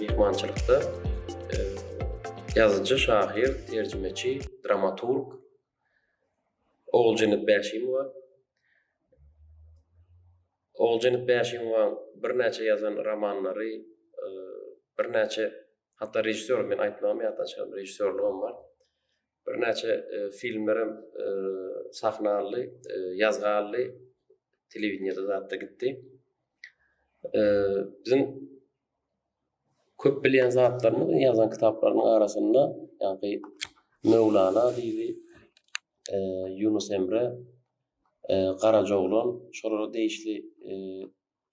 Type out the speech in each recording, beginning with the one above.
Myhmançylykda ýazyjy, şahyr, terjimeçi, dramaturg Oguljenet Bäşimowa, Oguljenet Bäşimowaň birnäçe ýazan romanlary, birnäçe hatda režissýor, men aýtmagym ýatdan çykan, režissýorlygam bar. Birnäçe filmler hem sahna aldy, ýazga aldy, telewideniýede zatda gitdi. Biziň köp bilýän zatlarymyz ýazan kitaplarynyň arasynda ýa-da Möwlana diýdi, e, Ýunus Emre, e, Garajoglan, şolara degişli e,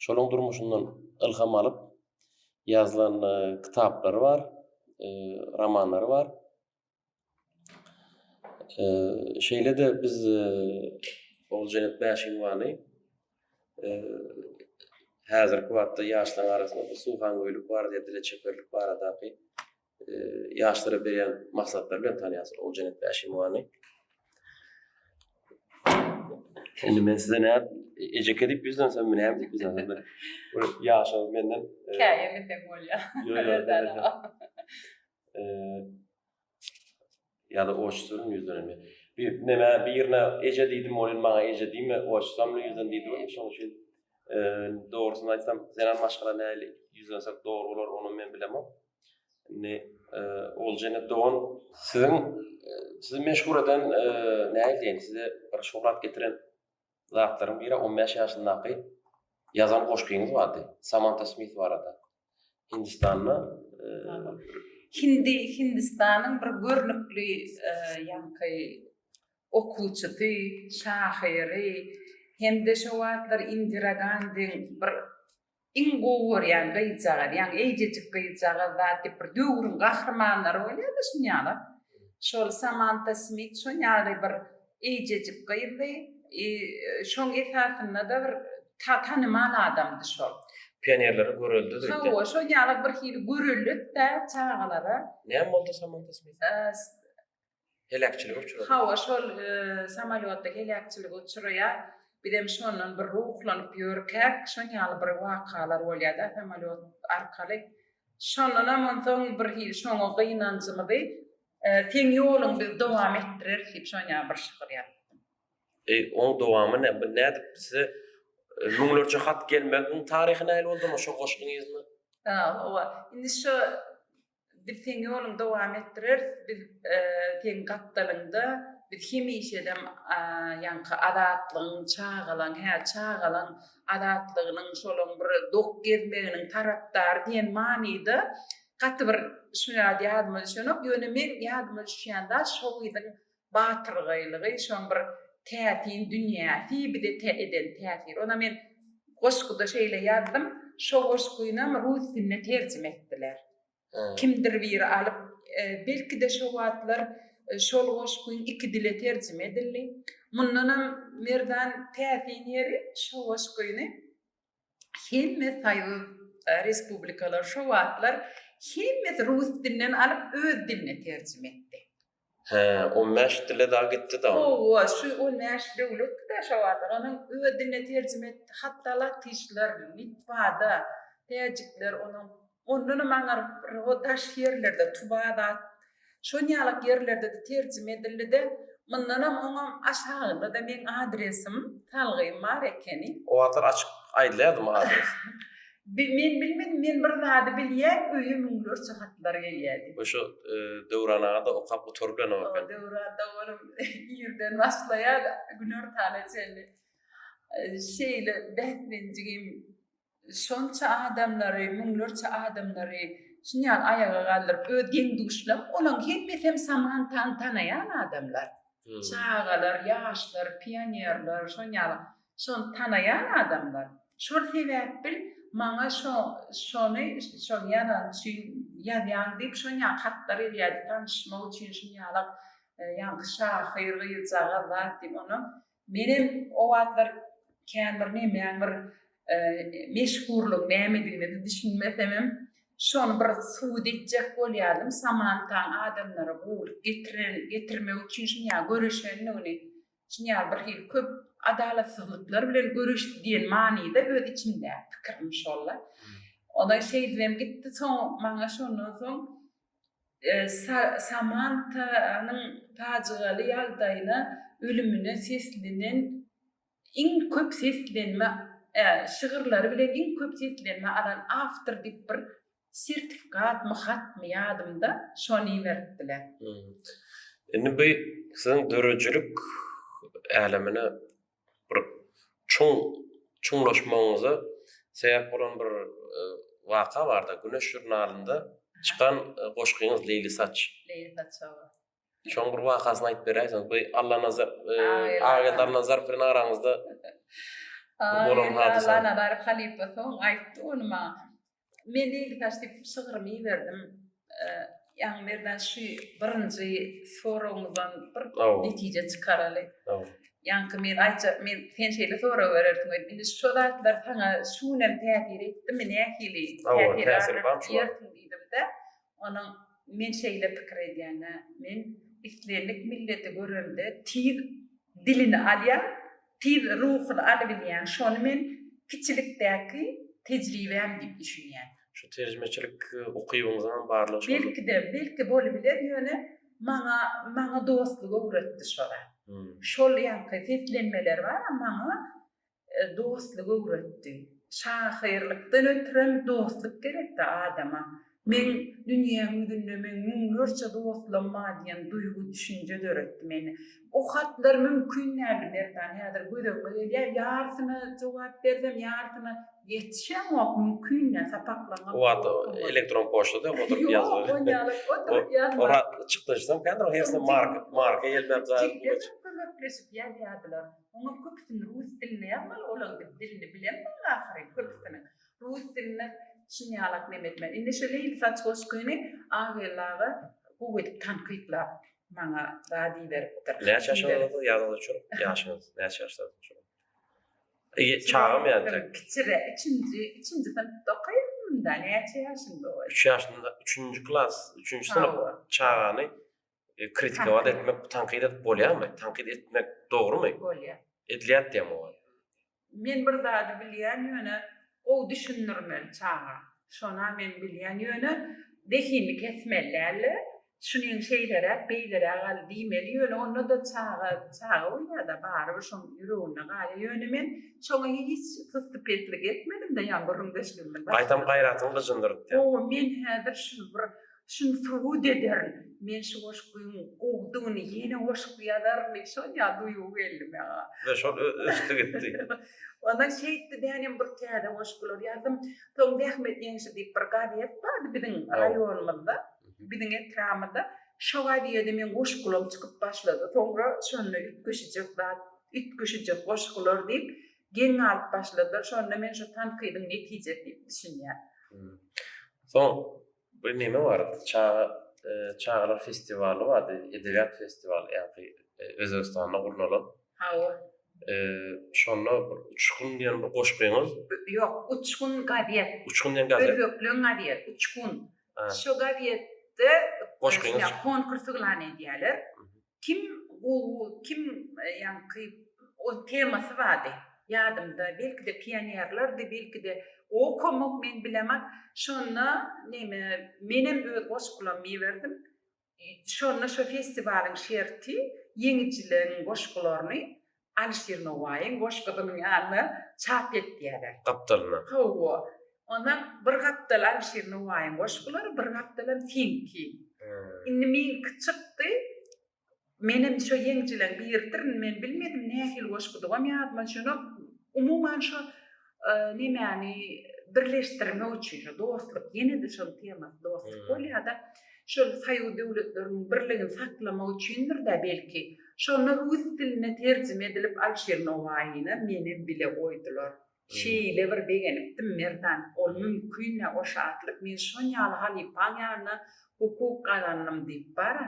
şolaryň durmuşyndan ylham alyp ýazylan e, kitaplary bar, e, romanlary bar. Şeýle-de biz Oguljenet Bäşimowany häzirki wagtda ýaşlaryň arasynda bu suwhangoýlyk barada, dile çeperlik baradaky ýaşlara berýän maslahatlary bilen tanýarsyň Oguljenet Bäşimowany. Indi men size näme ejeke diýip ýüzlensem, näme diýip ýüzlensem, bir ýaşaň menden. Käýe desem bolýar. Ýok, ýok. ýa-da oç sözüni ýüzden indi. Bir näme birine eje diýdim, ol indi maňa eje diýme, oç samly ýüzden diýdi ol. Şonuň üçin dogrusyny aýtsam, zenan maşgala näli ýüzlense dogry bolar, ony men bilemok. Indi Oljene dogan, siziň sizi meşhur eden näme diýen, size bir şöhrat getiren zatlaryň biri on bäş ýaşyndaky ýazan goşgyňyz bardy. Samanta Smith barada. Hindistanda Hindi Hindistanyň bir görnükli ýaňky okuwçysy, şahyry hem-de şo wagtlar Indira Gandiň bir Iň gowy görýän gyzjagaz, ýaňy eýjejik gyzjagaz zat diýip bir döwrüň gahrymanlary bolýada şun ýala. Şol Samanta Smit şon ýaly bir eýjejik gyzdy i şoň esasynda-da bir tanymal adamdy şol. Pionerlere görelde diýdi. Hawa, şol ýala birhili görelde-de çagalara. Näme boldy Samanta Smit? Heläkçilige uçradyk. Hawa, şol samolýotda heläkçilige uçraýar. Bizem şondan bir ruhlanyp ýörkäk, şonýaly bir wakalar bolýar-da samolýot arkaly. Şondanam onsoň birhili şoňa gynanjymyzy, Seň ýoluň biz dowam etdireris diýip şonýaly bir şygyr ýazypdym. E, oň dowamy näme? Bu nädip size müňlerçe hat gelmegiň taryhy nähili boldy onda şo goşgyňyzda? Hawa, indi şo Biz seň ýoluň dowam etdireris biz seň gapdalyňda biz hemişedem ýaňky azatlygyň çagalaň hä çagalaň azatlygynyň şolaň bir dok gezmeginiň tarapdary diýen manyda gaty bir şu ýadyma düşenok ýöne men ýadyma düşýän zat şo gyzyň batyrgaýlygy, şoň bir täsin dünýäsi bize tä eden täsiri. Onam men goşguda şeýle ýazdym, şo goşgynam rus diline terjime etdiler. Kimdir biri alyp, belki-de şo wagtlar şol goşgyn iki dile terjime edildi. Mundanam Merdan täsin ýeri, şo goşgyny hemme soýuz respublikalary şo wagtlar hemmesi rus dilinden alyp öz diline terjime etdi. Hä, on bäş dile dagy gitdi-da. Hawa, şu on bäş döwletdi-de şo wagtlar, onuň öz diline terjime etdi. Hatda latyşlar, litwada, täjikler onuň Ondanam aňryk bir o daş ýerlerde, Tubadat, şon ýalak ýerlerde-de terjime edildi-de, mundanam oňam aşagynda-da meň adresim, salgym bar ekeni. O wagtlar açyk aýdylýardymy adres? Bi, men bilmedim, men bir zady bilýän, öýe müňlerçe hatlar gelýärdi. We şo Döwran aga-da okap gutaryp bilenok eken. O Döwranda olam irden başlaýar, günortana çenli şeýle bäslenjigim Şonça adamlary, müňlerçe adamlary şuny ýaly aýaga galdyryp, öz deň-duşlaň bolan, hemmesi hem Samantany tanaýan adamlar. Çagalar, ýaşlar, pionerler, şoň ýaly şony tanaýan adamlar. Şol sebäp bil, maňa şo, şony, şony ýazan üçin ýazýaň diýip, şon ýaly hatlar gelýärdi, tanyşmak üçin şuny ýalak, ýaňky şahyr gyzjagaz zat diýip, onam Menem o wagtlar kän bir nemäň bir meşhurlygyň nämedigine-de düşünmesemem, şony bir subut etjek bolýardym, Samantaň adamlara gowulyk getirmek üçin şinýaly göreşendigini, şinýaly birhili köp adalatsyzlyklar bilen göreşdi diýen manyda öz içimdäki pikirim şol-la. Ondan şeýdibem gitdi, soň maňa şondan soň Samantanyň pajygaly ýagdaýyna, ölümine seslenen iň köp seslenme şygyrlary bilen iň köp seslenme alan awtor diýip bir sertifikatmy hatmy ýadymda şony iberipdiler. Indi bu siziň döredijilik älemine bir çuň çuňlaşmagyňyza sebäp bolan bir waka barda Güneş žurnalynda çykan goşgyňyz Leýli saç. Leýli saç hawa. Şoň bir wakasyny aýdyp beräýseňiz. Bu Allanazar Ageldi Allanazar bilen araňyzda bolan hadysa. Allanazar halypa soň aýtdy ony maňa. Men ilkibaş diýip şygrymy iberdim. Ýaňy Merdan şu birinji soragyňyzdan bir netije çykaraly. Ýaňky men aýtjak, men sen şeýle sorag berersiň öýdüp. Indi şu zatlar saňa şu gün hem täsir etdimi, nähili täsir bar diýersiň diýdim-de. Onuň Men şeýle pikir edýän-ä, men islendik milleti görende tiz dilini alýan, tiz ruhuny alybilýän, şony men kiçilikdäki tejribäm diýip düşünýän. Şu terjimeçilik ukybyňyzyňam barlygy şoldur. Belki-de, belki bolubiler, ýöne maňa, maňa dostlugy öwretdi şo zat. Şol ýaňky seslenmeler bar-a maňa Dostluk öwretdi. Şahyrlykdan ötrem dostluk gerekda adama. Meň dünýäň ýüzünde meň müňlerçe dostlam bar diýen duýgy düşünje döretdi mende. Bu hatlar mümkin däldi Merdan häzir göz öňüme gelýär. Ýarsyna jogap bersem ýarsyna ýetişemok mümkin däl sapaklaňam. O wagt elektron poçtada ýok oturyp ýazmak. Ýok onýaly oturyp ýazmak. Orak çykdajysam kädir o hersem marka marka gelmän. Jikde köpleşip ýazýardylar. Oňa köpüsini rus dilinde ýazmaly olar dip dilini bilemdiňiz ahyryn köpüsini rus dilinde çyn ýalak neme etmeli indi şo leýli saç goşgyny Aggeldi aga gowy edip tankytlap maňa zat iberipdir. Näçe ýaşyňyz boldy ýadyňyz üçin ýaşyňyz näçe ýaşdasyňyz şo wagt çagam ýaly tek kiçire üçünji üçünji synpda okaýardymda näçe ýaşyňda bolýa üç ýaşynda üçünji klas üçünji synp çagany E, kritikować etmek, tankyt edip bolýarmy? Tankyt etmek dogrumy? Bolýar. Edilýär diýem oňa. Men bir zady bilýän ýöne gowy düşündirmeli çaga. Şona men bilýän ýöne zehinini kesmeli däldi. Şunyň şeýleräk, beýleräk al diýmeli ýöne onda-da çaga, çaga bolýar-da barybir şoň ýüreginde galýar. Ýöne men şoňa hiç syztypetlik etmedim-de ýa gürrüňdeşligimiz. Gaýtam gaýratyň gyjyndyrdy. Gowy, men häzir şuny bir Şuny subut ederin. Men şu goşgyň gowudygyny ýene goşgy ýazaryn diýip şonýa duýgy geldi maňa. We şol ösdi gitdi. Ondan şeýtdi men hem bir täze goşgular ýazdym. Soň Zähmet ýeňşi diýip bir gazet bardy biziň raýonymyzda, biziň etrabymyzda. Şo gazede meň goşgularym çykyp başlady. Soňra şonda üýtgeşijek zat, üýtgeşijek goşgular diýip geň galyp başladylar. Şonda men şu tankydyň netijesi diýip düşünýän. Soň Bir neme bardy çaga çagalar festiwaly bardy edebiýat festiwaly ýaňky özbegistanda gurnalan hawa şonda bir uçgun diýen bir goşgyňyz ýok uçgun gazet uçgun diýen gazet özbekleň gazet uçgun şo gazetde goşgyňyz konkursy yglan edýärler Kim gowy, kim ýaňky o temasy bardy. Ýadymda, belki-de pionerlerdi, belki-de okamok, men bilemok. Şonda neme, menem öz goşgulamy iberdim. Şonda şo festiwalyň şerti, ýeňijileriň goşgularyny Alişir Nowaýyň goşgusynyň ýanyna çap etýärler. Gapdalyna. Hawa. Ondan bir gapdal Alişir Nowaýyň goşgulary, bir gapdalam seňki. Indi meňki çykdy. Menem şo ýeňjileň biridirin. Men bilmedim nähili goşgudygam ýadyma düşenok. Umuman şo nemäni birleşdirmek üçin şu dostluk ýene-de şol tema dostluk bolýar-da şol soýuz döwletleriniň birligini saklamak üçindir-de belki şonda rus diline terjime edilip Alşir Nowaýyny menem bile goýdular. Şeýle bir begenipdim Merdan ol mümkin-ä o şatlyk men şon ýaly halypaň ýanyna hukuk gazandym diýip bar-a.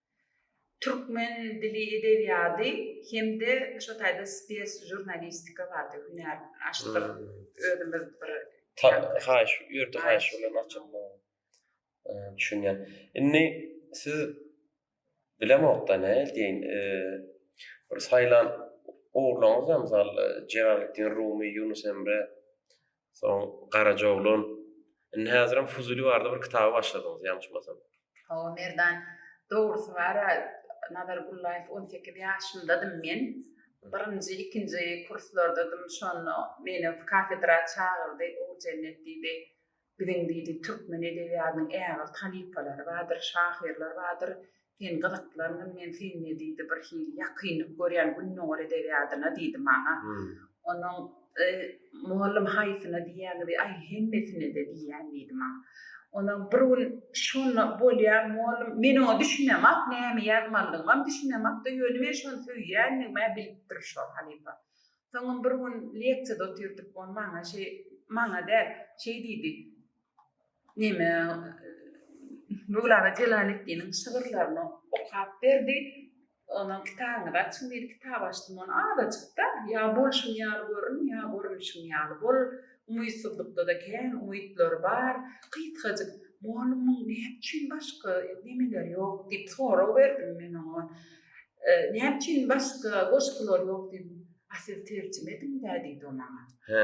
Türkmen dili edebiýady hem-de şo taýda spes žurnalistika bardy hünär açdyk özümiz bir haýyş ýurdy haýyş bilen açyldy düşünýän indi siz bilemokda ne diýin bir saýlan ogurlaryňyz bar mysal Jelalettin Rumy Ýunus Emre Soň Garaja oglan. Indi häzirem Fuzuly barada bir kitaby başladyňyz, ýalňyşmasam. Hawa, Merdan. Dogrusy bar-a, Nazar Gullaýew on sekiz ýaşymdadym men. Birinji, ikinji kurslardadym. Şonda meni kafedra çagyrdy. Oguljennet diýdi, Biziň diýdi, türkmen edebiýatynyň ägirt halypalary bardyr, şahyrlar bardyr. Sen gyzyklangyň men sende diýdi bir hili ýakynlyk görýän Gündogar edebiýadyna diýdi maňa. Onuň y mollum haýsyna diýýäňizi aý hemmesinede diýýän diýdi maňa. Onam bir gün şonda bolýa mollum men oňa düşünemok näme ýazmalydygymam düşünemokda ýöne men şony söýýändigimä bilipdir şo halypa. Soňam bir gün leksiýada otyrdyk ol maňa şeý maňa däl şeý diýdi neme Möwlana Jelaleddiniň şygyrlaryny okap berdi. Ondan kitabyňyzy açyň diýdi. Kitap açdym. Ony azajyk-da, ýa bolşuň ýaly görün, ýa görnüşiň ýaly bol. Umytsyzlykda-da kän umytlar bar. Gysgajyk, Mugallymyň näme üçin başga nemeleri ýok? diýip sorag berdim men oňa. Näme üçin başga goşgulary ýok? diýdim. A siz terjime ediň-dä diýdi o maňa. Hä,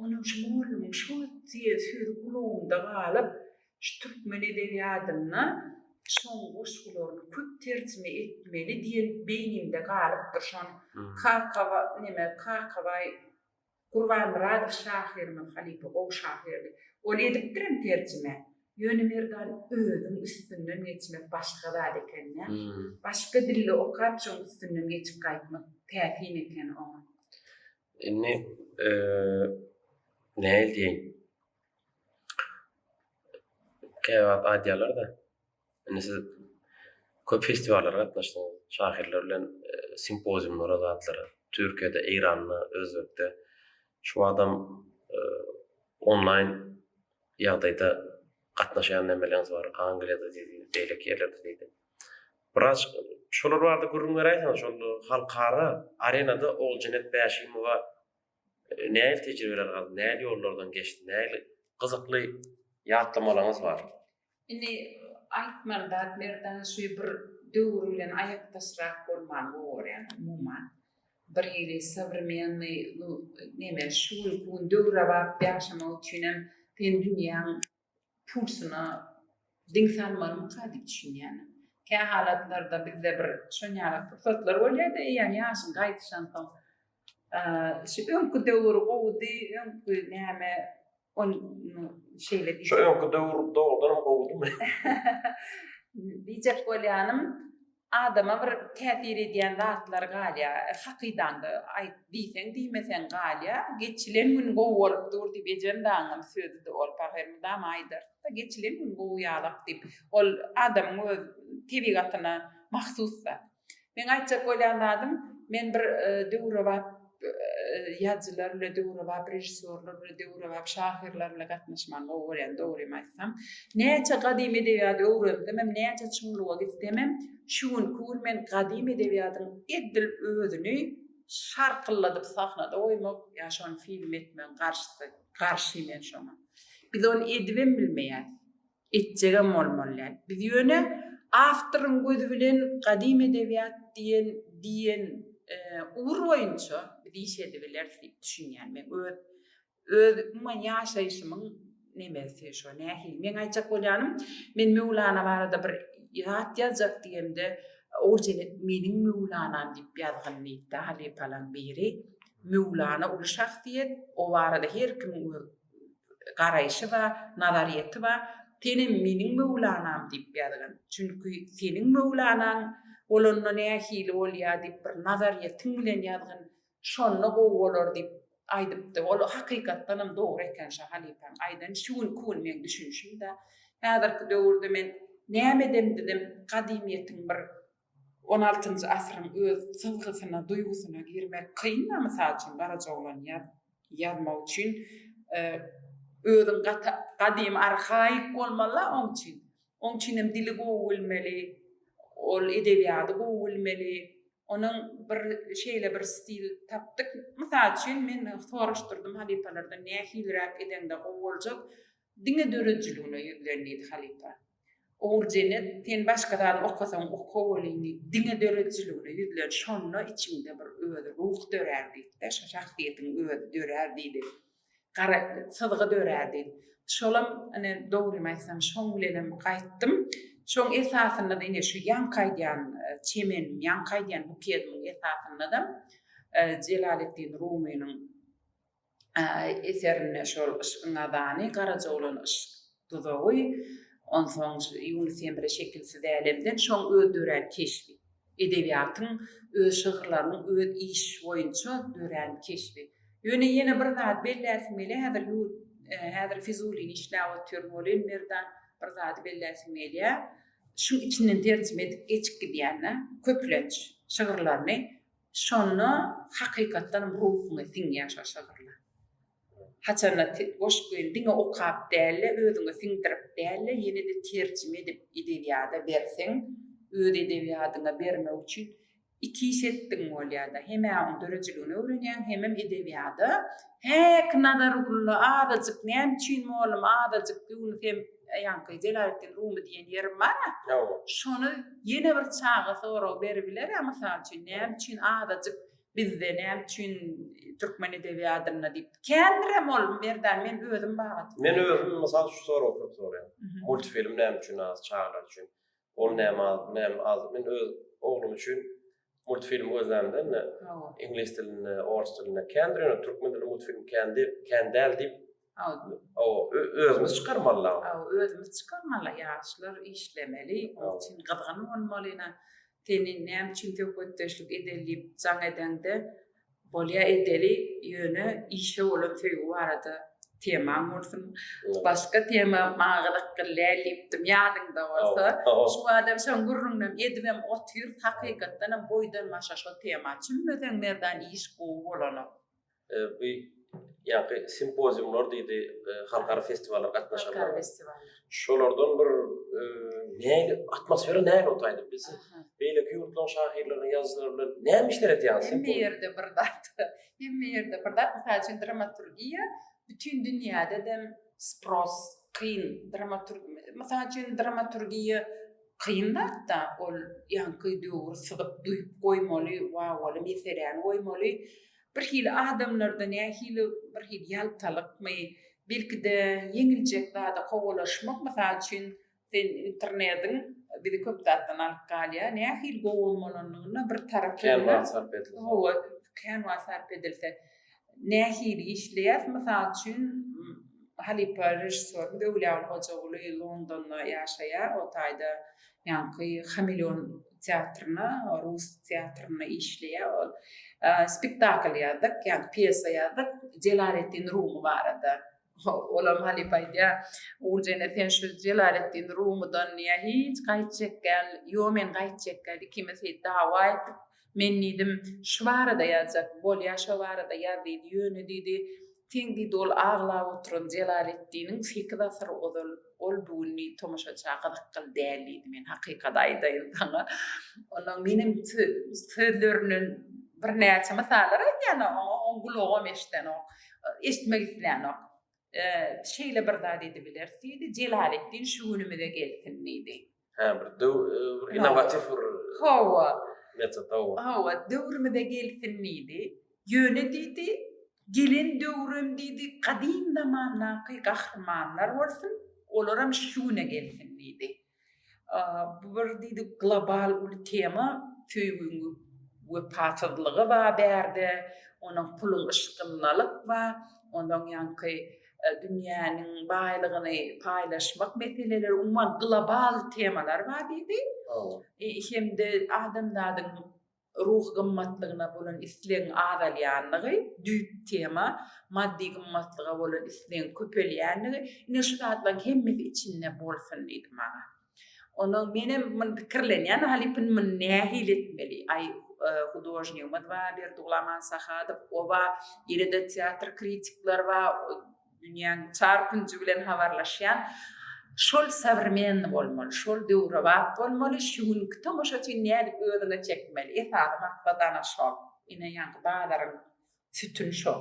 Onuň şu mollumyň şo diýen sözi gulagynda galyp, şu türkmen edebiýadynda şoň goşgularyny köp terjime etmeli diýen beýninde galypdyr. Şon Kakawa, neme, Kakabaý Gurbanmyradow şahyrymyz halypa gowy şahyrdy. Ol edipdirem terjime. Ýöne Merdan özüň üstünden geçmek başga zat eken-dä. Başga dilde okap şoň üstünden geçip gaýtmak täsin eken oňa. Indi nähili diýeýin? Käwagt aýdýarlar-da, indi siz köp festiwallara gatnaşdyňyz, şahyrlar bilen simpoziumlara, zatlara, Türkiýede, Eýranda, Özbekde. Şu wagtam onlaýn ýagdaýda gatnaşýan nämeleriňiz bar? Angliýada diýdi, beýleki ýerlerde diýdi. Biraz şolar barada gürrüň beräýseňiz, şol halkara arenada Oguljenet Bäşimowa nähili tejribeler galdy, nähili ýollardan geçdi, nähili gyzykly ýatlamalaryňyz bar? Indi aýtmaly zat Merdan şu bir döwür bilen aýakdaşrak bolmany gowy görýän umuman. Bir hili sowremennyý neme şu günki gün döwrebap ýaşamak üçinem sen dünýäň pulsyna diň salmalymyka diýip düşünýärin. Kä halatlarda bizde bir şon ýaly pursatlar bolýar-da, eýýäm ýaşyň gaýdyşansoň, şu öňki döwür gowudy, öňki näme, ony şeýle diýip. Şu öňki döwür dogrudanam gowudymy? Diýjek bolýanym, Adama bir täsir edýän zatlar galýar. Hakydaňda aýt diýseň diýmeseň galýar. Geçilen gün gowy bolup dur diýip ejem dagyňam sözüdi ol pahyr mydama aýdardy-da geçilen gün gowy ýalak diýip. Ol adamyň öz tebigatyna mahsus zat. Meň aýtjak bolýan zadym men bir döwrebap ýazyjylar bilen döwrebap režissýorlar bilen döwrebap şahyrlar bilen gatnaşmagyny gowy görýän dogrymy aýtsam näçe gadymy edebiýady öwrensem hem näçe çuňluga gitsem hem şu günki gün men gadymy edebiýadyň edil özüni şarkylladyp sahnada goýmak ýa şony film etmegiň garşysy garşy men şoňa biz ony edibem bilmeýäs Etjegem bolmalyä. Biz ýöne awtoryň gözi bilen gadymy edebiýat diýen diýen ugur boýunça biz iş edibileris diýip düşünýän. Men öz öz umuman ýaşaýşymyň nemesi şo nähili. Meň aýtjak bolýanym, men Möwlana barada bir zat ýazjak diýemde, ol jene meniň Möwlanam diýip ýazgyn diýipdi halypalaň biri. Möwlana uly şahsyýet, o barada her kimiň öz garaýşy bar, nazaryýeti bar. Senem meniň möwlanam diýip ýazgyn. Çünki seniň möwlanaň bolanda nähili bolýar diýip bir nazaryýetiň bilen ýazgyn. Şonda gowy bolar diýip aýdypdy. Ol hakykatdanam dogry eken şo halypaň aýdany. Şu günki gün meň düşünişim-de. Häzirki döwürde men näme edemdizem gadymyýetiň bir On altynjy asyryň öz syzgysyna, duýgusyna girmek kyn-a, mysal üçin, Garajaoglany ýazmak üçin özüň gaty gadymy, arhaik bolmaly-a oň üçin. Oň üçin hem dili gowy bilmeli, ol edebiýady gowy bilmeli. Onuň bir şeýle bir stil tapdyk, mysal üçin, men soraşdyrdym halypalardan nähiliräk edeňde gowy boljak, diňe döredijiligine ýüzlen diýdi halypa. Ogurjenet, sen başga zady okasaň oka welini, diňe döredijiligine ýüzlen, şonda içiňde bir özi ruh dörär diýdi-de, şo şahsyýetiň özi dörär diýdi. Gara syzgy dörär diýdi. Şolam, ine, dogrymy aýtsam, şoň bilenem gaýtdym. Şoň esasynda-da ine şu ýaňky aýdýan çemeniň, ýaňky aýdýan bukedynyň esasynda-da Jelaleddin Rumynyň eserinde şol yşkyň azany, garaja bolan yşk duzagy, onsoň Ýunus Emre Şekilsiz älemden şoň öz dörän keşbi, edebiýatyň öz şygyrlarynyň öz iş boýunça dörän keşbi. Ýöne ýene bir zady belläsim gelýär, häzir ýur häzir Fizulini işläp otyryn welin, Merdan bir zady belläsim gelýär, şuň içinden terjime edip geçip gidýän-dä, köplenç şygyrlaryny Şonda hakykatdanam ruhuňa siňýär şol şygyrlar. Haçanda goşgyny diňe okap däl-de, özüňe siňdirip däl-de, ýene-de terjime edip edebiýada berseň, öz edebiýadyňa bermek üçin iki iş etdigiň bolýar-da, hem-ä onuň döredijiligini öwrenýäň, hemem edebiýada, Häk, Nazargulla, azajyk, näme üçin, mollum, azajyk ýuwnus hem. Ýaňky Jelaletdin Rumy diýen ýerim bar-a. Hawa. Şony ýene bir çaga sorag beribiler-ä, mysal üçin, näme üçin azajyk bizde, näme üçin türkmen edebiýadynda diýip. Kändirem ol, Merdan, men özüm babatynda. Men özüm, mysal, şu soragy köp soraýan. Multfilm näme üçin az çagalar üçin? Ol näme az, bu näme az. Men öz oglum üçin multfilm gözlämde indi iňlis dilinde, ors dilinde kändir, ýöne türkmen dilinde multfilm kän diýip, kän däl diýip. O, özümiz çykarmaly. O, özümiz çykarmaly. Ýaşlar işlemeli, onuň üçin gyzgyn bolmaly. Ine, seni näme üçin söhbetdeşlik edeli diýip jaň edende, Bolýa edeli ýöne işe bolan söýgi barada temaň bolsun başga tema maňa gyzykly däl diýipdim ýadyňda bolsa şu badam şoň gürrüňinem edibem otyrys hakykatdanam boýdan başa şo tema çümmeseň merdan iş gowy bolanok. Bu ýaňky simpoziumlar diýdi halkara festiwallar gatnaşanlar. Halkara festiwallar. Şolardan bir e, näli atmosfera näli otaýdy biz beýleki ýurtlaryň şahyrlarynyň ýazyjylary bilen näme işler edýäňiz? Hemme ýerde bir zat. Hemme ýerde bir zat. Mysal üçin dramaturgiýa bütün dünýäde de spros kyn dramaturg. Mysal üçin dramaturgiýa kyn zatda ol ýaňky döwür syzyp duýup goýmaly, wawaly meseläni goýmaly. Bir hili adamlarda nähili bir hili ýaltalykmy, belki-de ýeňiljek zada kowalaşmak, mysal üçin, sen internediň bizi köp zatdan alyp galýar, nähili gowy bolmalynyna bir tarap Kän wagt sarp edilse. Hawa, kän wagt sarp edilse. Nähili işleýäs, mysal üçin, halypa režissýorymyz Öwlüaly Hojaguly Londonda ýaşaýar, o taýda Ýaňky Hameleon teatryna, rus teatrynda işleýär ol. Spektakl ýazdyk, ýagny pýesa ýazdyk Jelaletdin Rumy barada. Olam halypa aýdýar, Oguljene sen şu Jelaletdin Rumydan ýa hiç gaýtjak däl, ýo men gaýtjak däl, ikimiz dawa etdik. Men diýdim, Şu barada ýazjak, bolýa şo barada ýaz diýdi, ýöne diýdi, Seň diýdi ol aglap oturan Jelaletdiniň sekiz asyr ozal, ol bu gün diýdi tomaşaça gyzykly däl diýdi, men hakykaty aýdaýyn saňa, ondan menem sözlerinden birnäçe mysallar aýdýan oňa, oň gulagam eşidenok, eşitmek islänok. Şeýle bir zat edibileris diýdi, Jelaletdin şu günümize gelsin diýdi. Hä, bir döw, e, bir innowatif bir Hawa. metod, hawa. Hawa, döwrümize gelsin diýdi. Ýöne diýdi, gelen döwrem diýdi, gadym zamandaky gahrymanlar bolsun, olaram şu güne gelsin diýdi. A, Bu bir diýdi global uly tema, söýgiň wepasyzlygy bar bärde, onuň puluň yşkyndalyk bar, onuň ýaňky dünýäniň baýlygyny paýlaşmak meseleleri, umuman global temalar bar diýdi. Hem-de adamzadyň ruhy gymmatlygyna bolan islegiň azalýandygy, düýp tema, maddy gymmatlyga bolan islegiň köpelýändigi, ine şu zatlaryň hemmesi içinde bolsun diýdi maňa. Onuň menem mun pikirlenýän halypyn mun nähili etmeli. Aý e, hudožnigimiz bar Berduglaman Sahadow, oba ýene-de teatr kritikler bar, dünýäň çar künji bilen habarlaşýan. Şol sowremenni bolmaly, şol döwrebap bolmaly, şu günki tomaşaçyny nädip özüne çekmeli. Esasy maksat ana şol. Ine ýaňky bazaryň sütün şol.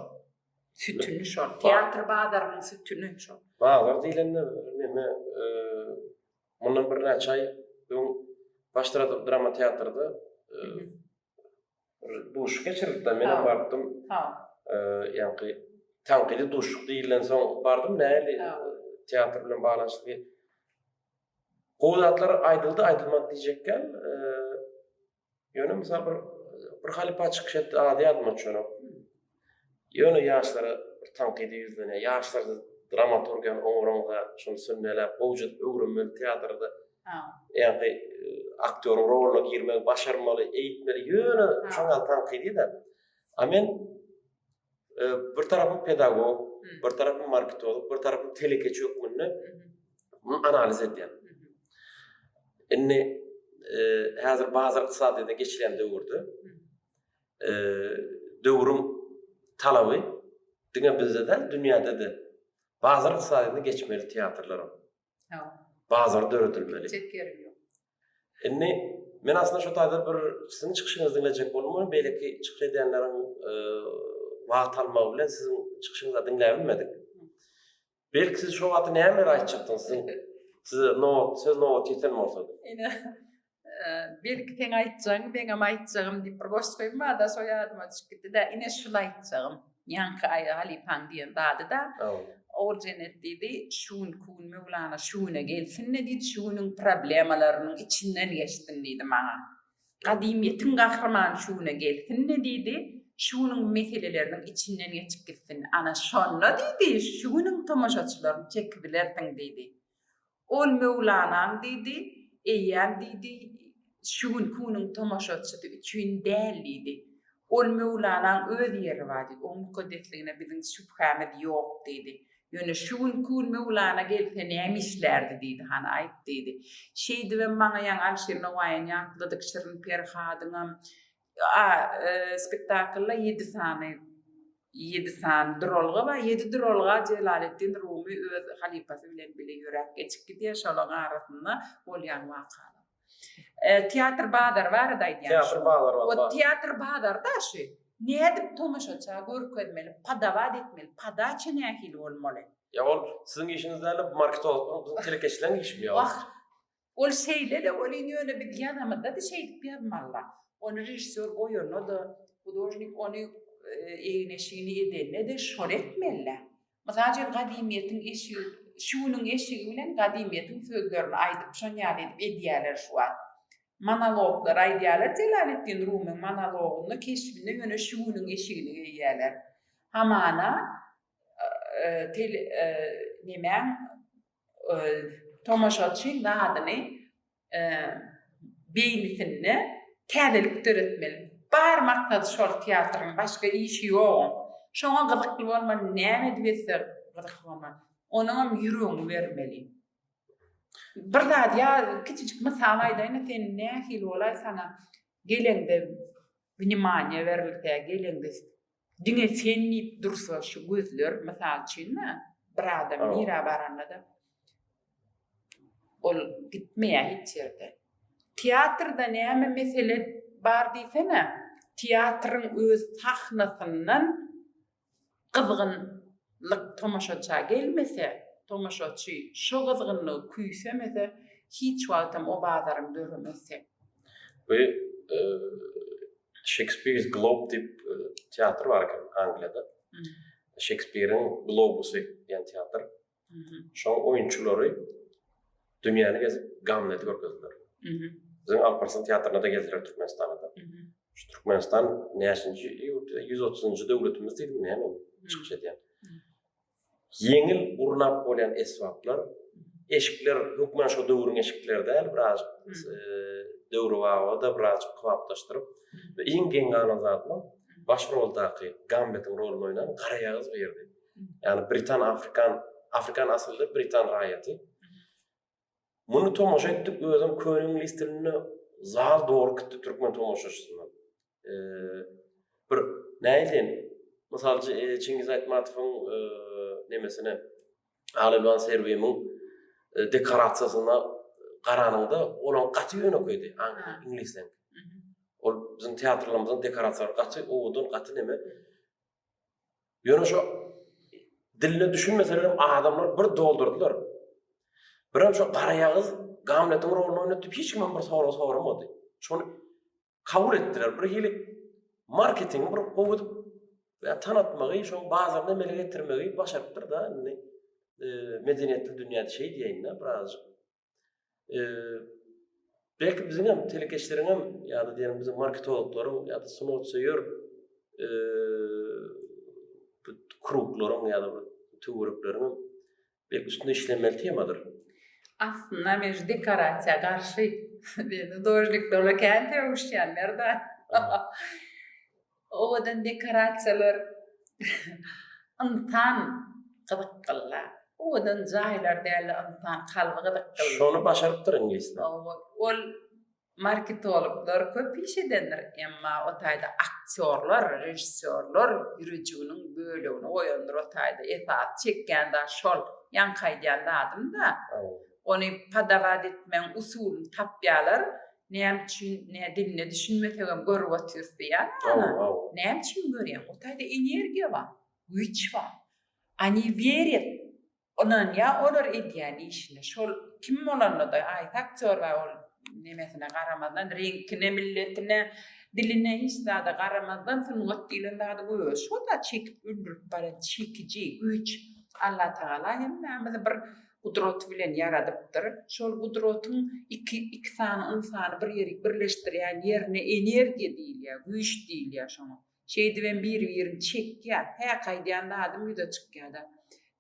Sütüni şol. Teatr bazarynyň sütüni şol. Bazar diýlende neme, mundan birnäçe aý öň Baştratop drama teatrda bir duşuk geçirdik-de, men hem barypdym. Ha. Ýagny tankydy duşuk diýilensoň bardym, nähili teatr bilen baglanyşykly. Gowy zatlar aýdyldy, aýdylmady diýjekgem, Ýöne mysal bir bir halypa çykyş etdi, ady ýadyma düşenok. Ýöne ýaşlara bir tankydy ýüzlenýär. Ýaşlar dramaturgiýany oňaraňda, şuny sünneläp, gowja öwrenmeli teatrda. Ha. Ýa-da e, aktýoryň roluna girmegi başarmaly, eýitmeli. Ýöne şoňa tankydy-da. A men bir tarapym pedagog, bir tarapym marketolog, bir tarapym telekeçi hökmünde muny analiz edýän. Indi e, häzir bazar ykdysadyýetine geçilen döwürde e, döwrüň talaby diňe bizde-de, dünýäde-de bazar ykdysadyýetine geçmeli teatrlaram. Bazar döredilmeli. Indi men aslında şu taýda bir sizin çykyşyňyzy diňlejek bolmam, belki çykyş edenleriň e, wagt almagy bilen siziň çykyşyňyzy diňläp bilmedik. Belki siz şu wagty nämeler aýtjakdyňyz? Size nobat, söz nobat ýeten bolsa. Ine. Belki sen aýtjagyň, meňem aýtjagym diýip bir goşgy goýup bada şo ýadyma düşüp gitdi-de, ine şul aýtjagym. Ýaňky aýa halypaň diýen zady-da. Ogul Jennet diýdi, şu gün ku gün Möwlana şu güne gelsin-de diýdi, şu günüň problemalarynyň içinden geçsin diýdi maňa. Gadymyýetiň gahrymany şu güne gelsin-de diýdi, şu günüň meseleleriniň içinden geçip gitsin. Ana şonda diýdi, şu günüň tomaşaçylaryny çekibilersiň diýdi. Ol Möwlanaň diýdi, eýýäm diýdi, şu gün kuniň tomaşaçysy üçin däl diýdi. Ol Möwlanaň öz ýeri bar diýdi, oň mukaddesligine biziň şübhämiz ýok diýdi. Ýöne şu gün kun Möwlana gelse näme işlärdi diýdi, hany aýt diýdi. Şeýdibem maňa ýaňy Alşir Nowaýyň ýatladyk Şirin Perhadyňam A spektaklda ýedi sany ýedi sany duralga bar. Ýedi duralga Jelaleddin Rumy öz halypasy bilen bile ýöräp geçip gidýär. Şolaryň arasynda bolýan wakalar. E, teatr bazary barada aýdýan. Teatr bazary bar. O teatr bazarda şu nädip tomaşaça görkezmeli, padawat etmeli, padaça nähili bolmaly? Ýa ol siziň işiňiz däl-de, marketologlaryň, telekeçileriň işimi ýa? Wah, Ol şeýle-de welin ýöne biz ýanymyzdady şeýdip ýazmalla. Ony režissýor goýanda-da, hudožnik ony egin-eşigini edende-de şony etmelilä. Mysal üçin gadymyýetiň eşigi şu günüň eşigi bilen gadymyýetiň sözlerini aýdyp şon ýaly edip edýäler şu wagt. Monologlar aýdýalar Jelaleddin Rumyň monologynda keşbinde ýöne şu günüň eşigini geýýäler. Hamana nemäň tomaşaçy zadyny beýnisinde täzelik döretmeli. Bar maksady şol teatryň, başga işi ýoguň. Şoňa gyzykly bolmaly, näme edip etse gyzykly bolmaly. Onuňam ýüregiňi bermeli. Bir zat ýa kiçijik mysal aýdaýyn-da, sen nähili bolaý, saňa geleňde wnemaniýe berilse, geleňde Diňe sen diýip dursa şu gözler, mysal üçin-dä, bir adam nirä baranda-da ol gitmeýär hiç ýerde. Teatrda näme mesele bar diýsene, teatryň öz sahnasyndan gyzgynlyk tomaşaça gelmese, tomaşaçy şo gyzgynlygy küýsemese, hiç wagtam o bazaryň döremezdi. Bu Shakespeare's Globe diýip e, teatr bar eken Angliýada. Shakespeare'in Globusy diýen teatr. Şoň oýunçylary dünýäni gezip Gamleti görkezdiler. Biziň Alparslan teatryna da geldiler Türkmenistana da. Şu Türkmenistan näçinji ýurt, 130-njy döwletimiz diýdim, näme çykyş edýän. Ýeňil gurnap bolýan esbaplar, eşikler hökman şo döwrüň eşikleri däl, birazjyk döwrebaba-da birazjyk kybaplaşdyryp we iň geň galan zadam baş roldaky Gamletiň roluny oýnan garaýagyz birdi. Ýagny britan-afrikan, afrikan asylly britan raýaty. Muny tomaşa etdik özem köne iňlis dilinde zal doly gitdi türkmen tomaşaçysyndan. Bir näýleýin mysal Çingiz Aýtmatowyň nemesine Alelwan Serwimiň dekorasiýasyna garanyňda olaň gaty ýönekeýdi iňlisden. Ol biziň teatrlarymyzyň dekorasiýalary gaty owadan gaty neme. Ýöne şo diline düşünmeselerem adamlar bir doldurdylar. Birem şo garaýagyz Gamletiň roluny oýnatdy, hiç kim bir sorag soramady. Şony kabul etdiler. Bir hili marketingi bir gowy edip ya tanatmagy, şoň bazarda emele getirmegi başarypdyr da, indi e, medeniýetli dünýäde şey diýeýin-de, birazjyk belki biziň hem telekeçileriň hem ýa-da diýelim biziň marketologlaryň ýa-da sungatsöýer e, kruklaryň ýa-da töwerekleriň belki üstünde işlemeli temadyr. Aslynda men şu dekorasiýa garşy. Beýle dožnikler kän töwüşýänler-de. Owadan dekorasiýalar ynsan gyzykgynla. Owadan jaýlar dälde ynsan kalby gyzykgynly. Şony başarypdyr iňlisler. Owo ol marketologlar köp iş edendir emma o taýda aktýorlar režissýorlar ýürejiginiň bölegini goýandyr o taýda esasy çekýän zat şol ýaňky aýdýan zadym da ony podawaat etmegiň usulyny tapýalar Näme üçin nä diline düşünmesegem görüp otyrys diýýän adam. Näme üçin görýäň? O taýda energiýa bar, güýç bar. Oni werýat, ynanýa olar edýän işine. Şol kim bolanda-da, haýsy aktýor bar ol nemesine garamazdan, reňkine, milletine, diline hiç zada garamazdan sungat diýlen zady göze şo zat çekip öldürip barýan çekiji güýç. Allatagala hemmämizi bir Gudrat bilen ýaradypdyr. Şol gudratyň iki iki sany ynsany bir ýerik birleşdirýän ýerine energiýa diýilýär, güýç diýilýär şoňa. Şeýdibem bir-birini çekýär. Häk aýdýan zadym ýüze çykýar-da.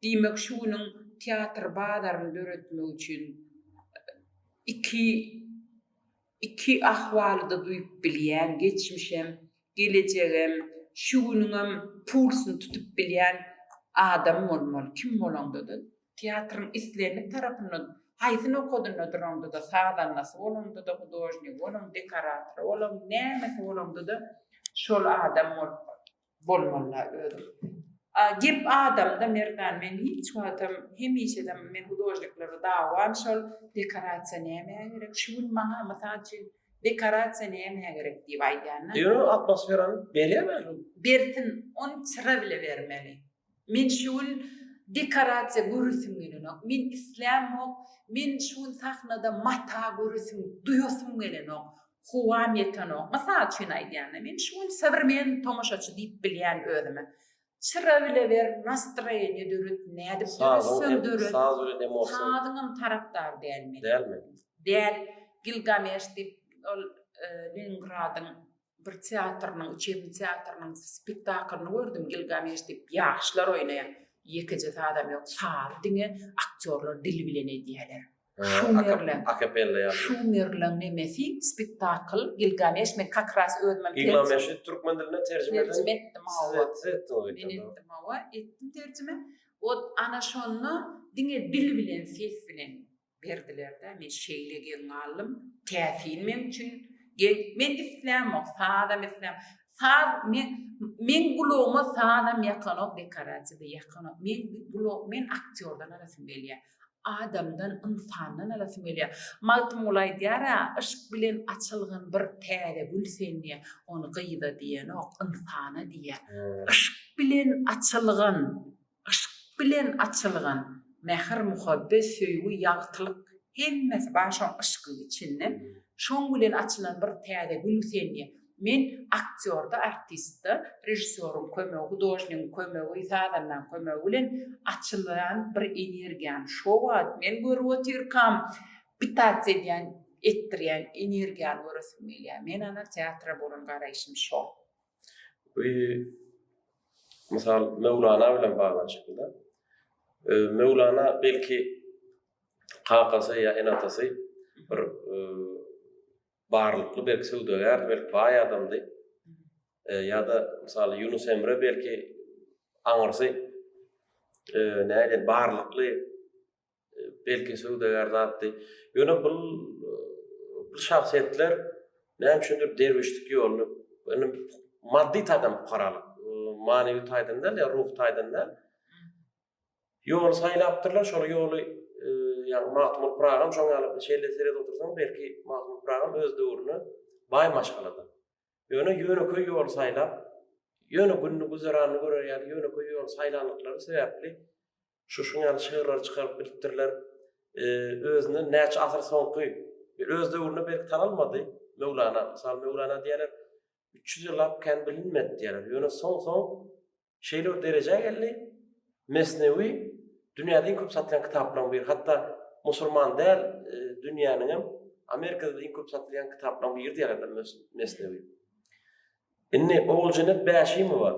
Diýmek şu günüň teatr bazaryny döretmek üçin iki Iki ahwaly-da duýup bilýän, geçmişem, gelejegem, şu günüňem pulsyny tutup bilýän adam bolmaly, kim bolaňda-da. Teatryň islendik tarapynda, haýsy nokadynda duraňda-da, sazandasy bolaňda-da, hudožnigi bolaň, dekoratory bolaň, nämesi bolaňda-da şol adam bolup bolýar. Bolmalyda özüm. A gep adamda Merdan men hiç wagtam hemişedem men hudožnikleri dawam şol dekorasiýa nämä gerek şu gün maňa mysal üçin dekorasiýa nämä gerek diýip aýdýanda. Ýöne atmosferany berýärmi? Bersin ony çyra bile bermeli. Men şu gün dekorasiýa göresim gelenok, men islämok, men şu gün sahnada mata göresim, duýasym gelenok, howam ýetenok. Mysal üçin aýdýan-da, men şu gün sowremenniý tomaşaçy diýip bilýän özüme. Çyra bile ber, nastroýeniýe döret, nädip döretseň döret. Saz bilen hem emosiýa. Sazyňam tarapdar däl men. Dälmi? Däl. Gilgameş diýip, ol Leningradyň bir teatrynyň, içerini teatrynyň spektaklyny gördüm, Gilgameş diýip, ýaşlar oýnaýar. Ýekeje sazam ýok, sazy diňe aktýorlar dili bilen edýärler. Şumerleň, akapella ýaly. Şumerleň nemesi spektakl, Gilgameş, men kak ras özümem. Gilgameşi türkmen diline terjime eden. Terjime etdim, hawa. Siz etdi, siz etdi. Men etdim, hawa, etdim terjime. Ot, ana şonda diňe dil bilen, ses bilen. Berdiler-dä, men şeýle geň galdym, täsin meň üçin geň, men islämok, sazam islämok, saz men, meň gulagyma sazam ýakanok, dekorasiýada ýakanok, men gulag, men aktýordan alasym gelýär, adamdan, ynsandan alasym gelýär. Magtymguly aýdýar-a, Yşk bilen açylgan bir täze gül sen diýýär, ony gyza diýenok, ynsana diýýär. Yşk bilen açylgan Yşk bilen açylgan mähir muhabbet söýgi ýagtylyk hemmesi bar şoň yşkyň içinde şoň bilen açylan bir täze gül senýe men aktýorda artistde režissýoryň kömegi hudožnigiň kömegi sazandanyň kömegi bilen açylýan bir energiýany şo wagt men görüp otyrkam pitats edýän etdirýän energiýany göresim gelýär men ana teatra bolan garaýşym şo. Bu mysal Möwlana bilen baglanyşyklyda. Möwlana belki kakasy ýa ene-atasy bir barlykly belki söwdagär, belki baý adamdy. Ýa-da mysal Ýunus Emre belki aňyrsy näde barlykly belki söwdagär zatdy. Ýöne bul bu şahsyýetler näme üçindir derwüşlik ýoluny, ýöne maddy taýdan pukaralyk, manewi taýdan däl, ýa ruhy taýdan däl, ýoly saýlapdyrlar, şol ýoly, ýagny Magtymguly Pyragyň şoň ýaly bir şeýle seredip otursaň, belki Magtymguly Pyragyň öz döwrüne baý maşgaladyr. Ýöne ýönekeý ýoly saýlap, ýöne gününi güzeranyny görer ýaly ýönekeý ýoly saýlandyklary sebäpli Şuşuň ýaly şygyrlary çykaryp bilipdirler. Özünden näçe asyr soňky, öz döwründe belki tanalmady Möwlana. Mysal Möwlana diýerler, üç ýüz ýyllap kän bilinmedi diýerler. Ýöne soň-soň şeýle bir derejä geldi, Mesnewi dünýäde iň köp satylan kitaplaryň biri. Hatda musulman däl e, dünýäniň hem Amerikada iň köp satylýan kitaplaryň biri diýerler Mesnewi. Indi Oguljenet Bäşimowa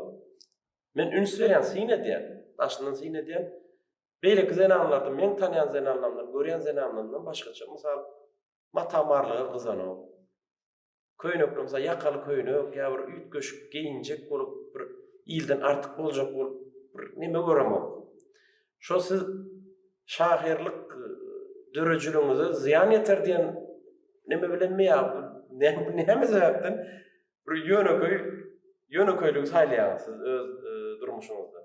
Men üns berýän, syn edýän, daşyndan syn edýän beýleki zenanlardan, meň tanýan zenanlarymdan, görýän zenanlarymdan başgaça, mysal, mata-marlyga gyzanok. Köýnekli, mysal, ýakaly köýnek ýa bir üýtgeşik geýinjek bolup, bir ilden artyk boljak bolup, bir neme göremok. Şo siz şahyrlyk dörejiligiňize zyýan ýeter diýen neme bilenmi ýa näme sebäpden Bir ýönekeý ýönekeýligi saýlaýaňyz siz öz durmuşyňyzda?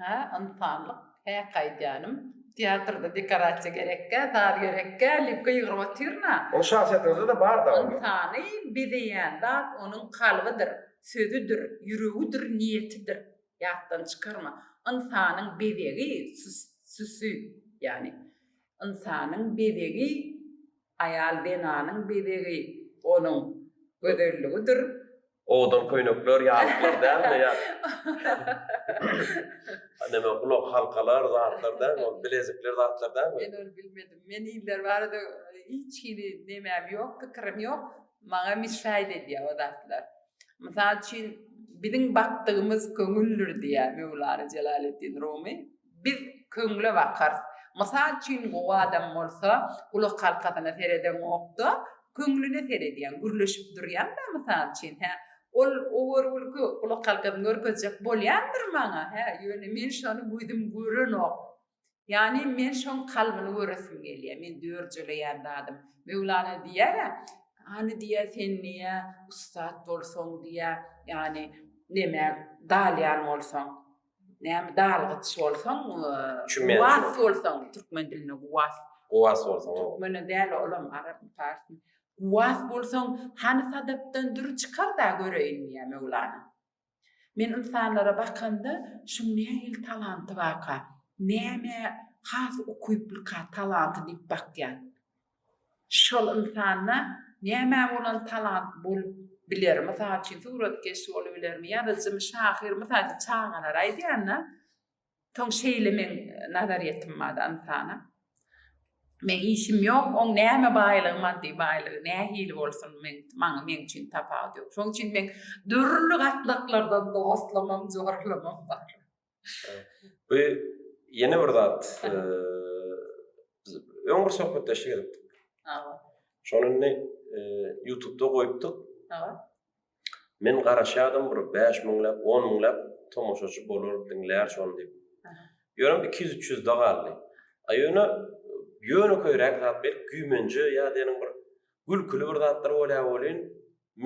Hä, ynsanlyk, hä gaýdýanym. Teatrda dekorasiýa gerekkä, saz gerekkä, lipka ýygryp otyryn-a. Ol şahsyýetiňizde-de bar dagy. Ynsany bezeýän zat onuň kalbydyr, sözüdir, ýüregidir, niýetidir. Ýatdan çykarma. Ynsanyň bezegi süsü, ýagny ynsanyň bezegi Aýal zenanyň bezegi onuň gözelligidir. Owadan köýnekler, ýaslyklar dälmi? Ýa näme gulak halkalar, zatlar dälmi ol? Bilezikler, zatlar dälmi? Men ony bilmedim. Men iller barada hiç hili nemäm ýok, pikirim ýok. Maňa misraýda edýär o zatlar. Mysal üçin, Biziň bakdygymyz köňüldir diýýär Möwlana Jelaleddin Rumy. Biz köňle bakarys. Mysal üçin, gowy adam bolsa, gulakhalkasyna seredeňok-da, köňlüne seredýäň. Gürleşip durýaň-da, mysal üçin, hä? Ol o görgülki gulakhalkasyny görkezjek bolýandyr maňa, hä? Ýöne men şony gözüm görenok. Ýagny men şoň kalbyny göresim gelýär, men dörjeleýän zadym. Möwlana diýýär-ä, Hany diýýär, sen diýýär, ussat bolsaň diýýär, ýagny neme, dalýan bolsaň, näme, dalgyç bolsaň, guwas bolsaň, türkmen dilinde guwas. Guwas bolsaň. Türkmene däl-ä olam, arapmy, parsmy. Guwas bolsaň, hany sadapdan dür çykar-da göreýin diýýär Möwlana. Men ynsanlara bakamda, şuň nähili talanty barka, nämä has ukyplyka talanty diýip bakýan. Şol ynsanda nämä bolan talant bolup biler? Mysal üçin, suratkeş bolubilermi, ýazyjymy, şahyr, mysal üçin, çagalara aýdýan-da, Soň şeýle meň nazaryýetim bar ynsana. Meň işim ýok, oň näme baýlygy maddy baýlygy nähili bolsun meň maňa meň üçin tapawudy ýok. Şoň üçin meň dürli gatlaklardan dostlamam, jorlamam bar. Bu ýene bir zat. Öň bir söhbetdeşlik edipdik. Şony indi YouTube-da goýupdyk. Men garaşýardym bir bäş müňläp, on müňläp tomaşaçy bolar, diňlär şony diýip. Ýöne iki ýüz, üç ýüzde galdy. A ýöne ýönekeýräk zat belki güýmenje ýa diýeniň bir gülküli bir zatlar bolýar welin,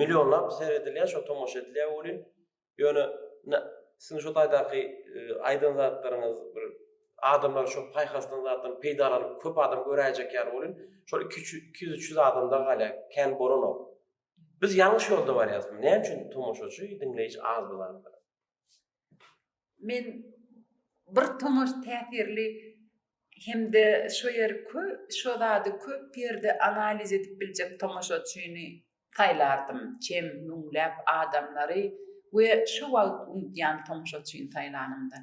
millionlap seredilýär, şo tomaşa edilýär welin, ýöne siziň şo taýdaky aýdan zatlaryňyz bir adamlar şo paýhasdan zatdan peýdalanyp köp adam göräýjek ýaly welin, şol iki ýüz, üç ýüz adamda galýar, kän bolanok. Biz ýalňyş ýolda barýarysmy? Näme üçin tomaşaçy, diňleýji az bolandyr? Men bir tomaş täsirli hem-de şu ýeri kö, şu zady köp ýerde analiz edip biljek tomaşaçyny saýlardym. Çem, müňläp adamlary we şu wagt unudýan tomaşaçyny saýlanymda,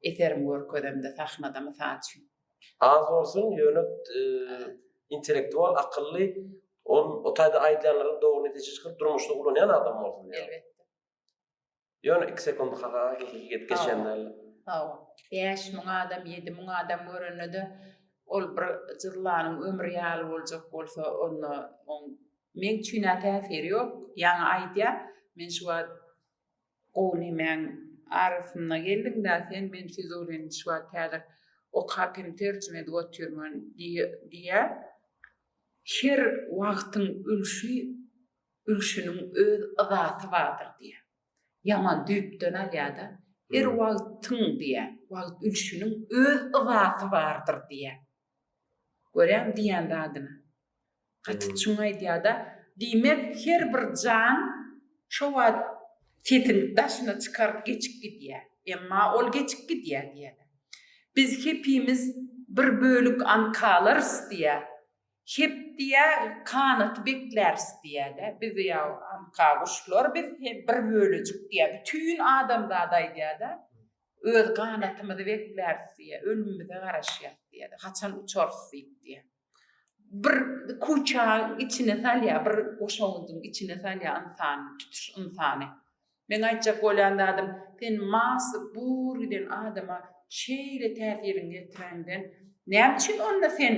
eserim görkezemde, sahnada, mysal üçin. Az bolsun, ýöne intellektual, akylly, ol o taýda aýdýanlaryň dogry netije çykyp, durmuşda ulanýan adam bolsun diýýän. Elbetde. Ýöne iki sekund ha-ha gidip geçenler. Hawa. Bäş müň adam, ýedi müň adam görende-de ol bir jyllanyň ömri ýaly boljak bolsa, onda oň meň üçin-ä täsiri ýok. Ýaňy aýdýar, men şu wagt Gowy nemäň arasynda geldiň-dä sen, men Fizulini şu wagt häzir okap hem terjime edip otyrman, diýýär. Her wagtyň ülşi, ülşüniň öz yzasy bardyr, diýýär. Ýaman düýpden alýar-da. Her wagtyň, diýýär, wagt ülşüniň öz yzasy bardyr, diýýär. Görýäňmi diýýän zadyny. Gaty çuň aýdýar-da. Diýmek, her bir jan şo wagt sesini daşyna çykaryp geçip gidýär. Emma ol geçip gidýär diýýärler. Biz hepimiz bir bölük ankalarys diýýär. Hep diýýär, kanaty bekläris diýýär-de. Biz ýaw anka guşlar biz, hem bir bölejik diýýär. Bütin adamzada aýdýar-da. Öz ganatymyzy bekläris diýýär, ölümimize garaşýas diýýär, haçan uçarys diýip diýýär. Bir kuçaň içine salýar, bir goşawundyň içine salýar ynsany, tutuş ynsany. Meň aýtjak bolýan zadym, sen Masy bur giden adama şeýle täsiriňi ýetiräňden, näme üçin onda sen,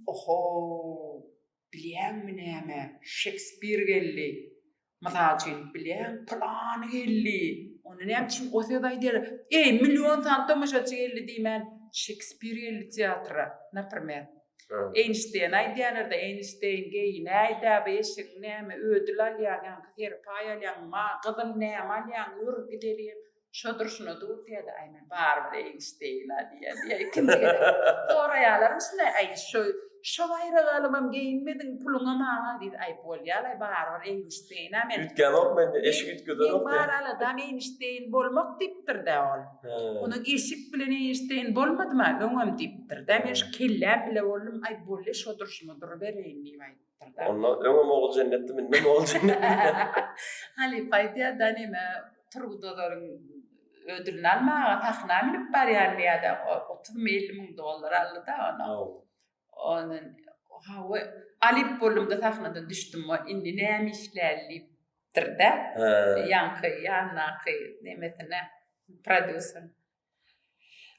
oho-o! Bilýäňmi näme, Şekspir geldi. Mysal üçin, bilýäň, pylany geldi. Onda näme üçin o söz aýdýarlar? Eý, million sany tomaşaçy geldi diýmän, Şekspir geldi teatra, naprimer. Eýnşteýen aýdýarlar-da, Eýnşteýn, geý, näýdä bu eşigiň, näme, ödül alýaň, ýaňky seri paý alýaň, ma, gyzyl näme alýaň, ýör, gidelýeň. Şo durşuna dur diýýärdi, aý men barybir eýgiş deýin-ä diýýärdi. Ikimiz gezek soraýalarmyşyn-aý, aý şo şo baýragalymam geýinmediň, puluňam maňa diýdi. Aý bolýa-laý barybir eýgiş deýin-ä men. Üýtgänok mende, eşik üýtgedenok men. Men bar aladam eýgiş deýin bolmak diýipdir-dä ol. Onuň eşik bilen eýgiş deýin bolmadym-a, öňem diýipdir-dä. Men şu kelläm bile boldum, aý bolýa şo durşuma durubereýin diýip aýtdym. Onda öňe mogul jennetli minde mogul jennetli. Hali paýtýa da nime Turgut Ozaryň ödülini almaga sahna minip barýan ýa-da 30 mi 50 müň dollar aldy da ona. Onu ha we alyp boldum da sahnada düşdüm we indi näme işläli diýipdir de. Ýaňky ýandaky nemesine prodýuser.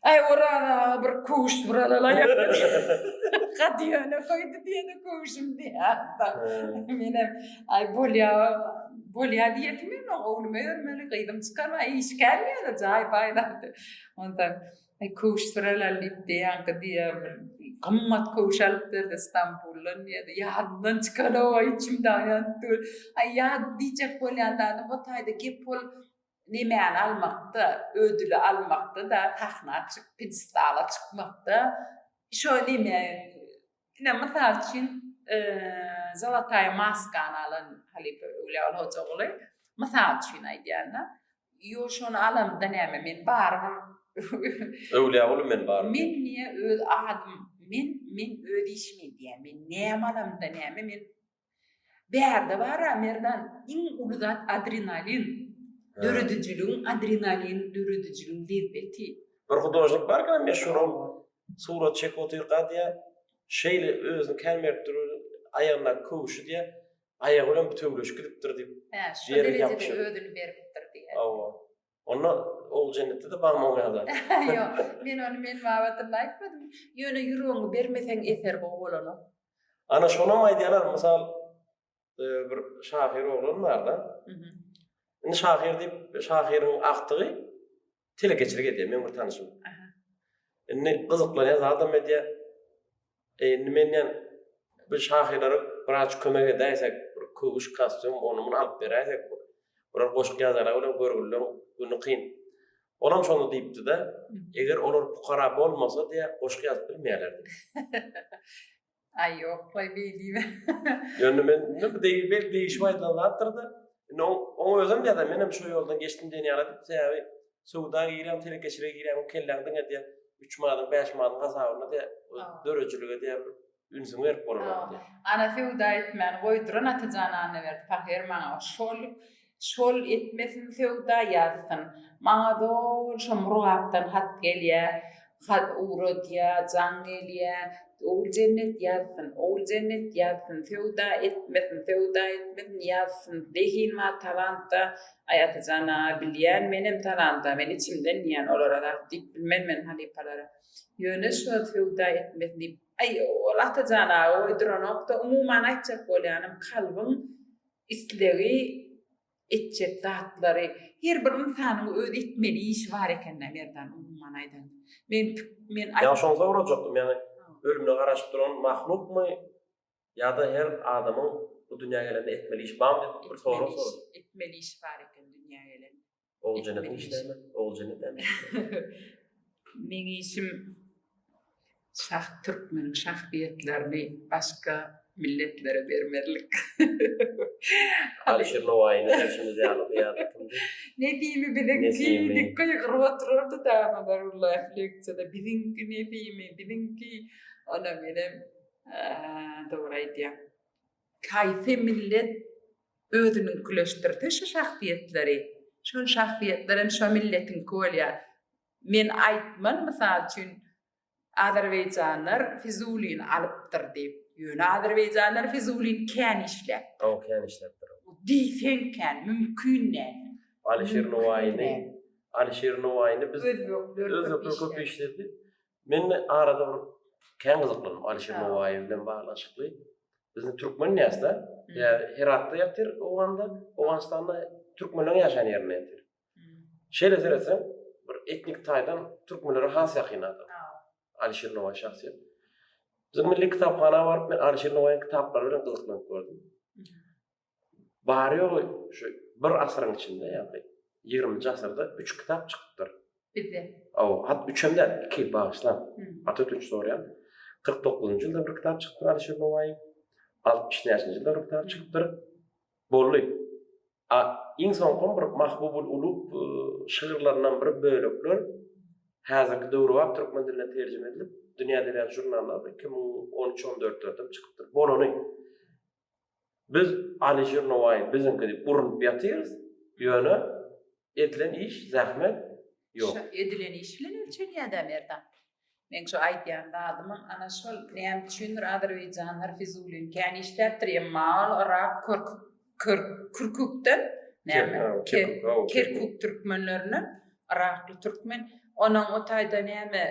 Aý Oraz aga bir köwüş buralalaýak. Gadýana goýdy diýene köwüşim diýýärdi. Menem aý bolýar, bolýar diýesim ýok, ogluma örmeli, gyzym çykarma, iş kän ýöne jaý paýlapdy. Onda aý köwüş buralal diýip diýýänki diýýär bir gymmat köwüş alyp berdi Stambuldan diýýärdi. Ýadymdan çykan-ow, içimde aýan döl. Aý ýat diýjek bolýan zady o taýda gep bolup Nemäni almakda, ödüli almakda-da, sahna çyk, pidestala çykmakda şo neme, ine, mysal üçin, Zolotaýa maskany alan halypa Öwlüýaguly Hojaguly, mysal üçin aýdýan-da, ýo, şony alamda näme, men barybir Öwlüýaguly men barybir. Men niýe öz adym, men, men öz işimi edýän, men näme alamda näme, men Bärde bar-a, Merdan, iň uly zat adrenalin. Döredijiligiň adrenalin, döredijiligiň lezzeti. Bir hudožnik bar ekeni, meşhur ol. Surat çekip otyrka diýýär, şeýle özüni kän berip dur, aýagyndaky köwüşi diýýär, aýagy bilen bütewleşip gidipdir diýip. Hä, şo derejede özüni beripdir diýýär. Hawa. Onda ol jennetde de barmy o ýada? Ýok, men ony men babatynda aýtmadym. Ýöne ýüregiňi bermeseň eser gowy bolanok. Ana şonam aýdýarlar, mysal e, bir şahyr oglan barda. Indi şahyr diýip, şahyryň agtygy telekeçilik edýär, meň bir tanşym. Indi gyzyklanýar, zadam edýär. E indi men diýen bir şahyrlara biraz kömek edäýsek, bir köwüş, kostýum, ony muny alyp beräýsek, bular goşgy ýazarlar welin görgülileriň güni kyn. Olam şony diýipdi-de, eger olar pukara bolmasa diýýär, goşgy ýazyp bilmeýärler diýdi. Aý ýok, goý beý diýme. Ýöne men indi bu degişip ýörüp aýdylan zatdyr-da, indi oň, oň özem ýazan, menem şo ýoldan geçdim diýen ýalydyp, sebäbi Söwda giren, telekeçilige giren bu kelläň diňe diýen 3 manyň, 5 manyň hasabynda diýen döredijilige diýen bir ünsüňi berip bolanok diýen. Ana söwda etmäni goýduran Atajan Annaberdi pahyr maňa şol şol etmesin söwda ýazsyn. Maňa doly şo Murgapdan hat gelýär. Hat ugradýa, jaň gelýä, Oguljennet ýazsyn, Oguljennet ýazsyn, Söwda etmesin, söwda etmesin, ýazsyn, Zehin bar talantda, Aý, Atajan aga, bilýän menem talanta, men içimden diýýän olara zat diýip bilmen men halypalara. Ýöne şu wagt söwda etmesin diýip, aý, ol Atajan aga goýduranok-da, umuman aýtjak bolýanym, kalbyň islegi, etjek zatlary her bir ynsanyň öz etmeli işi bar ekendä Merdan umuman aýdanda men men Ýa şony sorajakdym ýagny ölümine garaşyp duran mahlukmy ýada her adamyň bu dünýä gelende etmeli işi barmy diýip bir sorag sorajak. Etmeli işi bar eken dünýä gelende. Oguljenet işleme oguljenet näme işleýär. Meň işim Şah türkmeniň şahsyýetlerini başga milletlere bermezlik. Alyşir Nowaýyny derşimiz ýaly bu ýerde kimdi? Nesimi biziňki diýip gygyryp otyrardy dana Zarullah leksiýada biziňki Nesimi biziňki onam menem dogry aýdýaň. Haýsy millet özüniňkileşdirse şu şahsyýetleri şol şahsyýetler hem şo milletiňki bolýar. Men aýtman mysal üçin Azerbaýjanlar Fizulini alypdyr diýip. Ýöne azerbaýjanlar Fizulini kän işläpdir. Hawa, kän işläpdir. Diýseň kän, mümkin däl. Alyşir Nowaýyny, Alyşir Nowaýyny biz özbekler köp işledi. Men arada bir kän gyzyklandym Alyşir Nowaýy bilen baglanyşykly. Biziň türkmen nätse, Heratda ýatyr, Owganda, Owganystanda türkmenleriň ýaşaýan ýerinde ýatyr. Şeýle seretseň, bir etnik taýdan türkmenlere has ýakyn adam. Alişir Nowaý şahsyýet. Biziň milli kitaphana baryp, men Alişir Nowaýyň kitaplary bilen gyzyklanyp gördüm. Bary ýogy şu bir asyryň içinde, ýagny 20-nji asyrda 3 kitap çykypdyr. Bizde. Aw, hat üçem däl, iki bagyşlan. Ata ötünç soraýan. 49-njy ýylda bir kitap çykypdyr Alişir Nowaýyň. 60 näçenji ýylda bir kitap çykypdyr. Boldy. A Iň soňkym bir Mahbubul Ulub şygyrlaryndan bir bölekler häzirki döwrebap türkmen diline terjime edilip, Dünýä edebiýat žurnalynda iki müň on üç on dörtlerde çykypdyr. Bolany, biz Alyjir Nowaýy biziňki diýip urnup ýatyrys, ýöne edilen iş, zähmet ýok. Şa edilen iş bilen ölçelýär-dä Merdan. Meň şu aýdýan zadymam ana şol, näme üçindir azerbaýjanlar fizulini kän işläpdir, emma ol yrak, körk, kürkükden, näme, kerkuk türkmenlerinden, yrakly türkmen, onuň o taýda näme,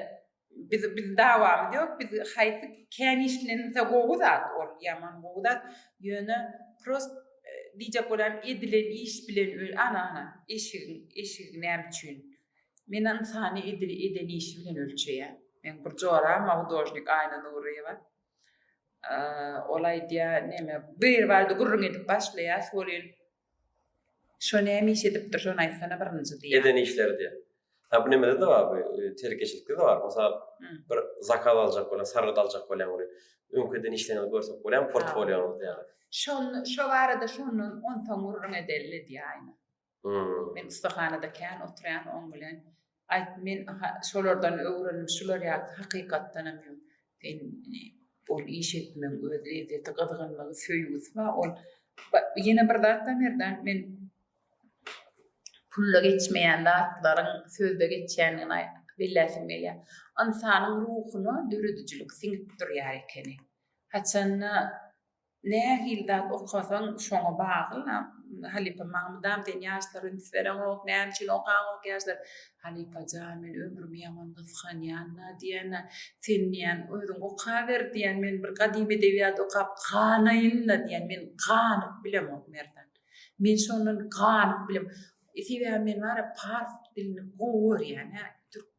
biz, biz dawamyz ýok, biz haýsy kän işlenilse gowy zat ol, ýaman gowy zat, ýöne prost diýjek bolýan edilen iş bilen, ana, ana, eşigiň, eşigi näme üçin. Men ynsany edil eden işi bilen ölçeýän. Meň bir joragym hudojnik Aýna Nuryýewa. Ol aýdýar, neme, biri bardy gürrüň edip başlaýas welin, Şo näme iş edipdir, şony aýtsana birinji diýýär. Eden işleri diýýär. Ýa bu nemede-de bar, bu telekeçilikde-de bar. Mysal, bir zakaz aljak bolýan, sargyt aljak bolýan welin, öňküden işleňizi görsek bolýarmy portfolioňyzda ýa-da? Şo barada şondan onsoň gürrüň edeli diýýär Aýna. Men ussahanada kän oturýan oň bilen. Aýt men şolardan öwrendim şular ýaly hakykatdanam ýok. Sen ol iş etmeň öz lezzeti gyzgynlygy söýgüsi bar ol ýene bir zat bar Merdan men pulda geçmeýän zatlaryň sözde geçýändigini belläsim gelýär. Ynsanyň ruhuna döredijilik siňip durýar ekeni. Haçanda Nähili zat okasaň şoňa bagly halypa Magmydam sen ýaşlara üns bereňok näme üçin okaňok ýaşlar Halypa jan men ömrümi ýaman gysganýanla diýýänla sen diýýän özüň okaber diýýän men bir gadymy edebiýat okap ganaýynla diýýän men ganyp bilemok Merdan men şondan ganyp bilemok Sebäbi men bara pars dilini gowy görýän, hä, türk,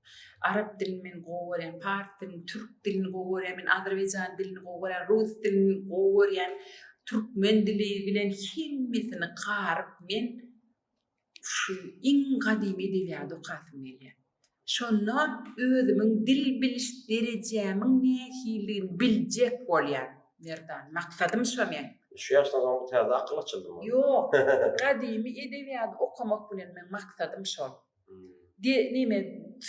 arap dilini men gowy görýän, pars dilini, türk dilini gowy görýän, men azerbaýjan dilini gowy görýän, rus dilini gowy görýän, türkmen dili bilen hemmesini garyp men şu iň gadymy edebiýady okasym gelýär. Şonda özümiň dil biliş derejämiň nähilidigini biljek bolýan, Merdan. Maksadym şo meň. Şu ýaşdan soň bu täze akyl açyldymy? Ýok. Gadymy edebiýady okamak bilen meň maksadym şol. De, neme,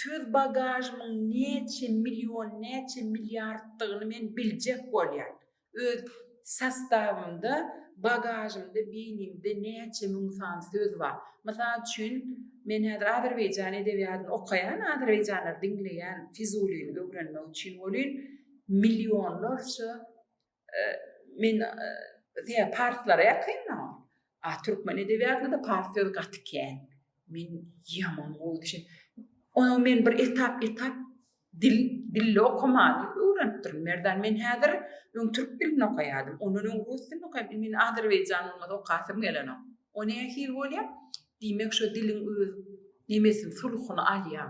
söz bagažymyň näçe million, näçe milliarddygyny men biljek bolýan. Öz sastawymda, bagažymda, beýnimde näçe müň sany söz bar. Mysal üçin, men häzir azerbaýjan edebiýatyny okaýan, azerbaýjanlary diňleýän, Fizulyny öwrenmek üçin welin, millionlarça, men, parslara ýakyndyr. A türkmen edebiýatynda-da pars sözi gaty kän. Men ýaman gowy düşün. Onuň men bir etap etap dil dilli okamany öwrenipdirin. Merdan men häzir öň türk dilini okaýardym. Ondan öň rus dilini okaýardym. Men azerbaýjan bolmasa okasym gelenok. O nähili bolýa? Diýmek şo diliň öz nemesini sulhuny alýa.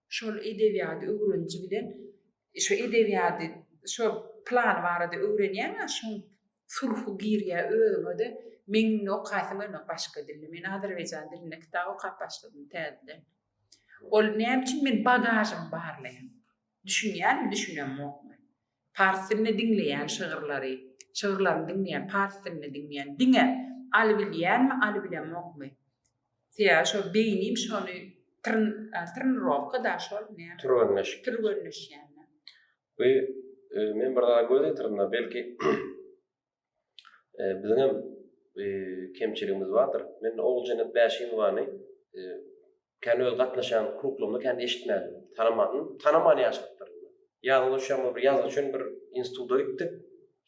şol edebiýady öwreniji bilen şu edebiýady şu plany barada öwrenýäňä şoň sulhu girýä özüňede meň indi okaýsym gelmek başga dilde men azerbaýjan dilinde kitap okap başladym täzeden ol näme üçin men bagažymy barlaýan düşünýäňmi düşünemokmy Pars dilinde diňleýän şygyrlary, şygyrlaryny diňleýän, pars dilinde diňleýän diňe Aly bilýänmi, Aly bilemokmy? Sebäbi şol beýnim şony tren, trenirowka da şol näme? Türgenleşik. Türgenleşýän. We men bir zada göz ýetirdim-de, belki e, biziň hem e, kemçiligimiz bardyr. Men Oguljenet Bäşimowany e, kän öz gatnaşan kruklumda kän eşitmädim. Tanamadym. Tanaman ýaşapdyr. Ýazyda şoňa bir ýazgy üçin bir instituta gitdik.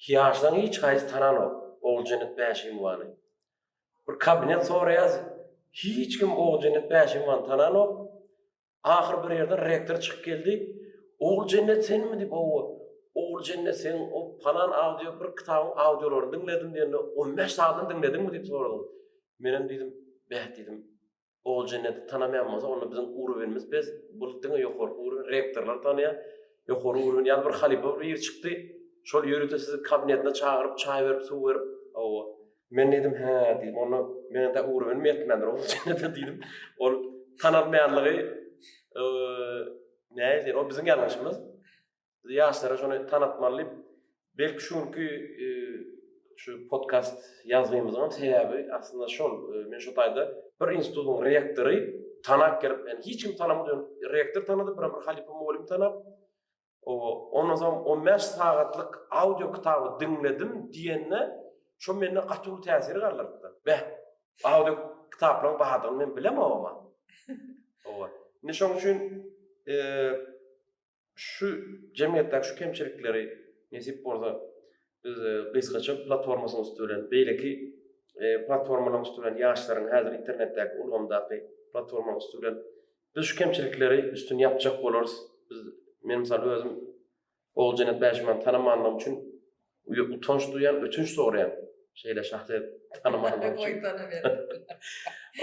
Ýaşdan hiç haýsy tananok. Oguljenet Bäşimowany. Bir kabinet soraýas. Hiç kim Oguljenet Bäşimowany tananok. Ahyr bir ýerden rektor çykyp geldi. Oguljennet senmi diýip, owa. Oguljennet sen o palan audio bir kitabyň audiolaryny diňledim diýende, 15 sadyny diňlediňmi diýip sorady. Men hem diýdim, beh diýdim. Oguljenneti tanamaýan bolsa, onda biziň urowenimiz pes, bul diňe ýokarky urowen, rektorlar tanaýar. Ýokary urowen ýaly bir halypa bir ýigit çykdy. Şol ýörite sizi kabinetine çagyryp, çaý berip, suw berip, owa. Men dedim, hä, dedim, onda men de ugra ölüm etmändir, o üçin de dedim. Ol tanalmaýanlygy e, näýdi? O biziň ýalňyşymyz. Biz ýaşlara şony tanatmaly diýip, belki şu günki e, şu podcast ýazgymyzyň sebäbi aslynda şol. E, men şu taýda bir institutyň rektory tanap gelip, yani hiç kim tanamadan rektor tanady, bir bir halypa mugallym tanap. Ondan soň on bäş sagatlyk audio kitaby diňledim diýende, şo mende gaty uly täsir galdyrypdyr. Beh, audio kitaplaryň bardygyny men bilemogama. Owa. Indi şoň üçin şu jemgyýetdäki şu kemçilikleri nesip bolsa biz gysgaça platformasynyň üsti bilen beýleki platformalaryň üsti bilen ýaşlaryň häzir internetdäki ulgamdaky platformalaryň üsti bilen Biz şu kemçilikleri üstüni ýapjak bolarys. Biz men mysal özüm Oguljenet Bäşimany tanamanlygym üçin utanç duýýan, ötünç soraýan. Şeýle şahsy tanamanlygym üçin.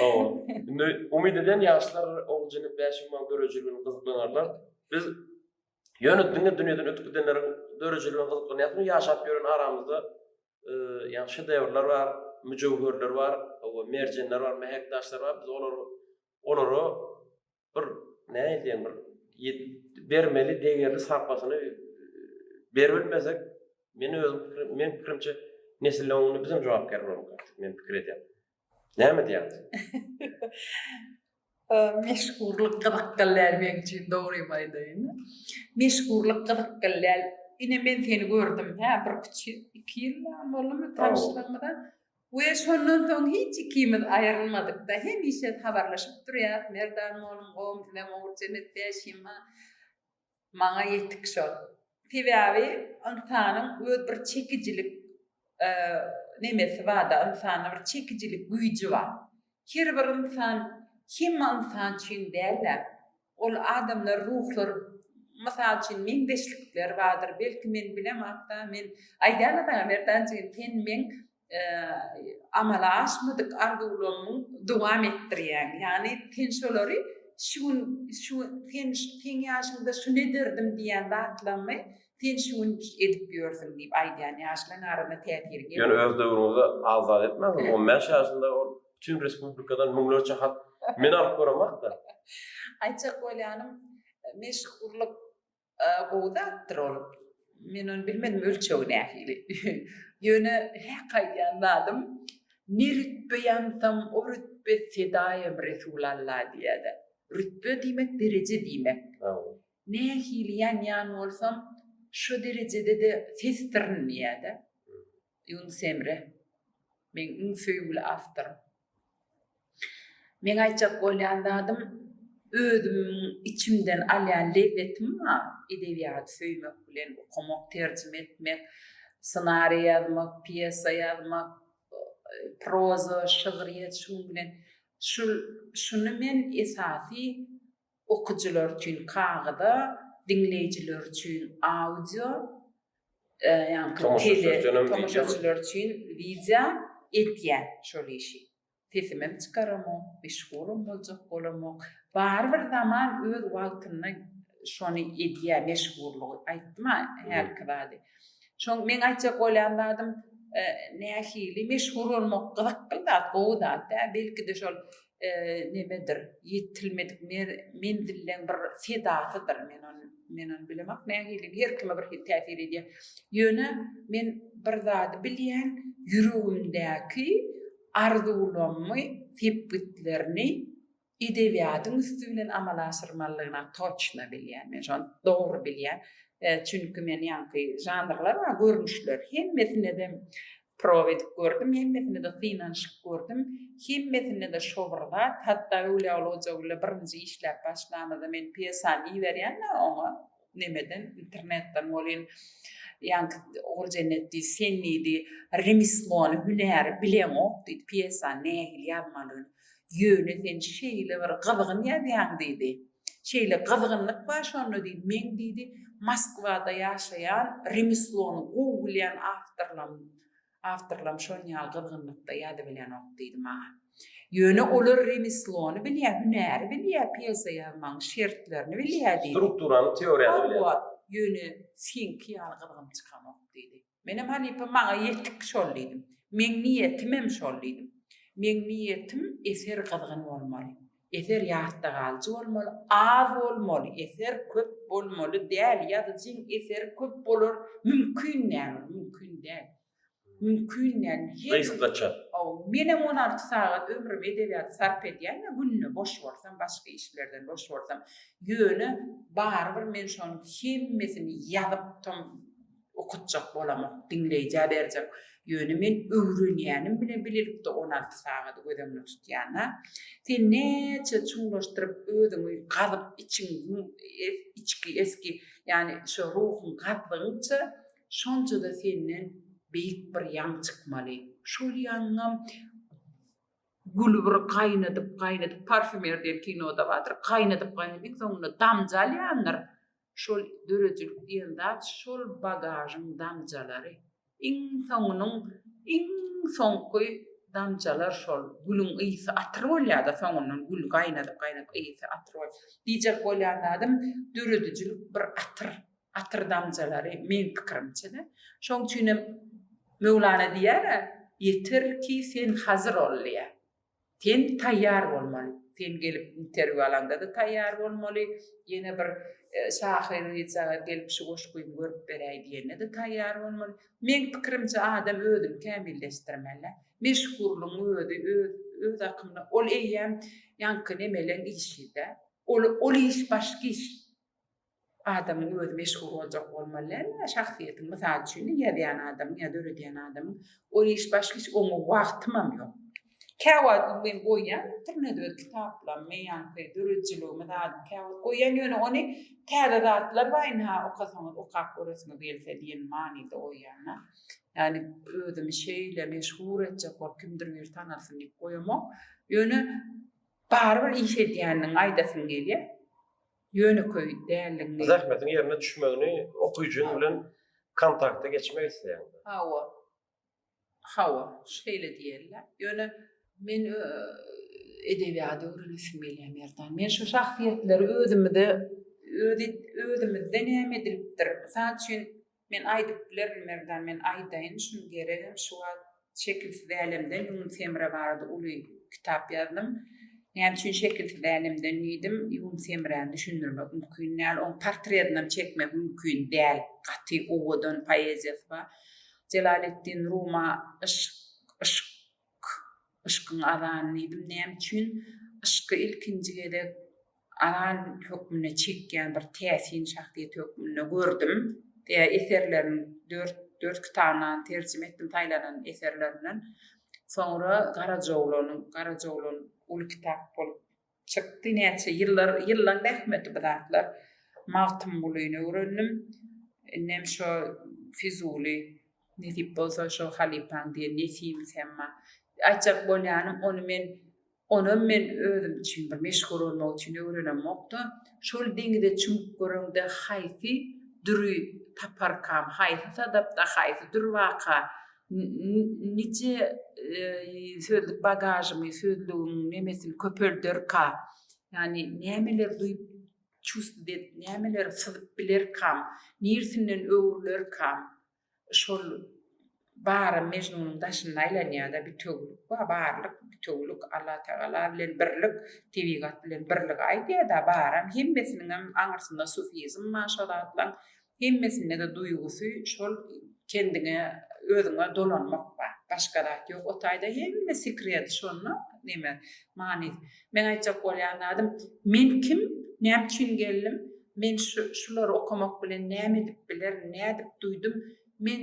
Owa. Indi umyt eden ýaşlar Oguljenet Bäşimany döredijiligine gyzyklanarlar. Biz ýöne diňe dünýäden ötüp gidenleriň döredijiligine gyzyklanýarsyň, ýaşap ýören aramyzda e, ýa şedevrler bar, müjewherler bar, owa merjenler bar, mähek daşlar bar. Biz olary olara bir näýdýän bir bermeli degerli sarpasyny beribilmesek men özüm men pikirimçe nesille onda bizem jogapkär bolmaly men pikir edýän näme diýýäňiz meşgurlyk gyzyk gallär men üçin dogrymy aýdaýyn meşgurlyk gyzyk gallär ine men seni gördüm hä bir iki ýyl boldumy tanşlygymyza We şondan soň hiç ikimiz aýrylmadyk-da, hemişe habarlaşyp durýas, Merdan moluň gom size mowrcem etýä şima maňa ýetik şol. Sebäbi ynsanyň öz bir çekijilik nemesi bar-da, ynsanda bir çekijilik güýji bar. Her bir ynsan hemme ynsan üçin däl-ä. Ol adamlar, ruhlar, mysal üçin, meňzeşlikler bardyr. Belki men bilemok-da, men aýdýan-da saňa Merdan jigim, sen meň amala aşmadyk arzuwlarymyň dowam etdirýäň. Ýagny sen şolary şu gün, şu sen, seň ýaşyňda şuny ederdim diýýän zatlaryňy Sen şu gün edip ýörsüň diýip aýdýan ýaşlaň arasyna täsiri gelmedi. Ýöne öz döwrüňizi az-zat etmäňiz. On bäş ýaşynda ol bütin respublikadan müňlerçe hat men alyp göremok-da. Aýtjak bolýanym, meşhurlyk gowy zatdyr ol. Men ony bilmedim ölçegi nähili. Ýöne häk aýdýan zadym, ne rütbe ýansam, o rütbe fedaýym Resulalla diýýä-de. Rütbe diýmek dereje diýmek. Nähili ýanýan bolsam, şo derejede-de sesdirin diýýär-dä Ýunus Emre, meň iň söýgüli awtorym. Meň aýtjak bolýan zadym, özümiň içimden alýan lezzetim bar, edebiýady söýmek bilen, okamak, terjime etmek, ssenariý ýazmak, pýesa ýazmak, proza, şygryýet, şunuň bilen, şul, şuny men esasy okyjylar üçin kagyza, diňleýjiler üçin audio, ýaňky tele, tomaşaçylar üçin wideo edýän şol işi. Sesimem çykaramok, meşhuram boljak bolamok. Barybir zaman öz wagtynda şony edýär, meşhurlygy. Aýtdym-a hälki zady. Şoň meň aýtjak bolýan zadym, nähili meşhur bolmak gyzykly zat, gowy zat-da. Belki-de şol nemedir, ýetilmedik menzilleň bir sedasydyr. Men ony, men ony bilemok nähili, her kime bir hili täsir edýär. Ýöne men bir zady bilýän, ýüregimdäki arzuwlarymy, sepgitlerini edebiýatyň üsti bilen amala aşyrmalydygyna toçna bilýän. Men şony dogry bilýän. Çünki men ýaňky žanrlar bar, görnüşler. Hemmesine-de Prob edip gördüm hemmesinde-de synanyşyp gördüm hemmesinde-de şo bir zat hatda Öwlýaguly Hojagülle birinji işläp başlamyzda men pýesany iberýän-de oňa nemeden internetden welin ýaňky Oguljennet diýdi sen diýdi remeslony hünäri bileňok diýdi pýesany nähili ýazmalyny ýöne sen şeýle bir gyzgyn ýazýaň diýdi. Şeýle gyzgynlyk bar şonda diýip, meň diýdi, Moskwada ýaşaýan, remeslony gowy bilýän awtorlam awtorlam şon ýaly gyzgynlykda ýazybilýänok diýdi maňa. Ýöne olar remeslony bilýä, hünäri bilýä, pýesa ýazmagyň şertlerini bilýä diýdi. Strukturany, teoriýany bilýä. Hawa, ýöne seňki ýaly gyzgyn çykanok diýdi. Menem halypa maňa ýetik şol diýdim. Meň niýetimem şol diýdim. Meň niýetim eser gyzgyn bolmaly. Eser ýatda galyjy bolmaly, az bolmaly, eser köp bolmaly däl, ýazyjyň eseri köp bolar, mümkin däl ol, mümkin däl. Mümkin däl. Gysgaça. Hawa, menem on alty sagat ömrümi edebiýata sarp edýän we günde boş bolsam, başga iş bilerden boş bolsam, ýöne barybir men şonuň hemmesini ýazyp tam Okatjak bolamok, diňleýjä berjek. Ýöne men öwrenýänim bilen bilelikde on alty sagady göz öňüne tutýan-a. Sen näçe çuňlaşdyryp özüňi gazyp içiň, içki, esgi, ýagny şo ruhuň gazdygyňça, şonça-da senden beýik bir ýaň çykmaly. Şol ýaňam güli bir gaýnadyp-gaýnadyp, parfýumer diýen kinoda bardyr, gaýnadyp-gaýnadyp, iň soňunda damja alýandyr, Şol döredijilik diýen zat şol bagažyň damjalary. Iň soňunyň iň soňky damjalar şol. Gülüň ysy atyr bolýar-da soňundan gül gaýnadyp-gaýnadyp ysy atyr bol. Diýjek bolýan zadym döredijilik bir atyr, atyr damjalary meň pikirimçe-de. Şoň üçinem Möwlana diýýär-ä, Ýeter ki sen hazyr ol diýýär. Sen taýýar bolmaly. Sen gelip interwýu alanda-da taýýar bolmaly, ýene bir şahyr jaga gelip şu goşgymy görüp beräý diýende-de taýýar bolmaly. Meň pikirimçe adam özüni kämilleşdirmeli. Meşhurlygyň özi öz akymyna ol eýýäm ýaňky nemeleň işi-dä. Ol iş başga iş. Adamyň özi meşhur boljak bolmaly dälmi? Şahsyýetiň, mysal üçin, ýazýan adamyň ýa döredýän adamyň ol iş başga iş oňa wagtymam ýok. Käwagt ony men goýýan internede öz kitaplarymy, meýanky döredijiligimi zadym käwagt goýýan, ýöne ony täze zatlar bar ynha okasaňyz okap göresiňiz gelse diýen manyda goýýan-da. Ýagny özümi şeýle meşhur etjek bolup kimdir biri tanalsyn diýip goýamok. Ýöne barybir iş edýändigiňi aýdasyň gelýär. ýönekeý däldigini. Zähmetiň ýerine düşmegini okyjyň bilen kontakta geçmek isleýäňmi? Hawa. Hawa, şeýle diýeli. Ýöne men edebiýady öwrenesim gelýär, Merdan. Men şu şahsyýetleri özümde, öz, özümizde näme edilipdir? Mysal üçin, Men aýdyp bilerin Merdan men aýdaýyn şuny geregem şu wagt Şekilsiz älemden ýunus Emre barada uly kitap ýazdym näme üçin şekilsiz älemden diýdim ýunus Emräni düşündirmek mümkin däl oň portredinem çekmek mümkin däl gaty owadan poeziýasy bar Jelaleddin Ruma yşk yşk K. Yşkyň azany diýdim. Näme üçin? Yşky ilkinji gezek azan hökmünde çekýän bir täsin şahsyýet hökmünde gördüm. Tä eserlerini dört, dört kitabynam terjime etdim, saýlanan eserlerinden. Soňra Garajyoglan, Garajyoglan uly kitap bolup Çykdy näçe ýyllar ýyllan zähmeti bu zatlar. Magtymgulyny öwrendim. Indem şo Fizuly nesip bolsa şo halypaň diýen Nesimi Semma. Aýtjak bolýanym ony men onam men özüm üçin bir meşhur bolmak üçin öwrenemokda. Şol deňize çümüp göreňde haýsy düri taparkam, haýsy sadapda, haýsy dür waka Nice sözlük bagažymy sözlügiň nemesini köpelderka yani nämeler duyup çustudet nämeler syzyp bilerkam nirsinden öwrülerka şol barym mejnunyň daşynda aýlanýada bitewülik bar barlyk bitewülik Allah tagala bilen birlik tebigat bilen birligi aýdýada baram hemmesiniňem aňyrsynda sufizm bar şo zatlaň Hemmesinde-de duýgusy şol kendiňe, özüňe dolanmak bar. Başga zat ýok o taýda. Hemme sekredi şonda, neme, manysy. Meň aýtjak bolýan zadym, men kim, näme üçin geldim, men şu, şulary okamak bilen näme edip bilerin, nädip duýdum, men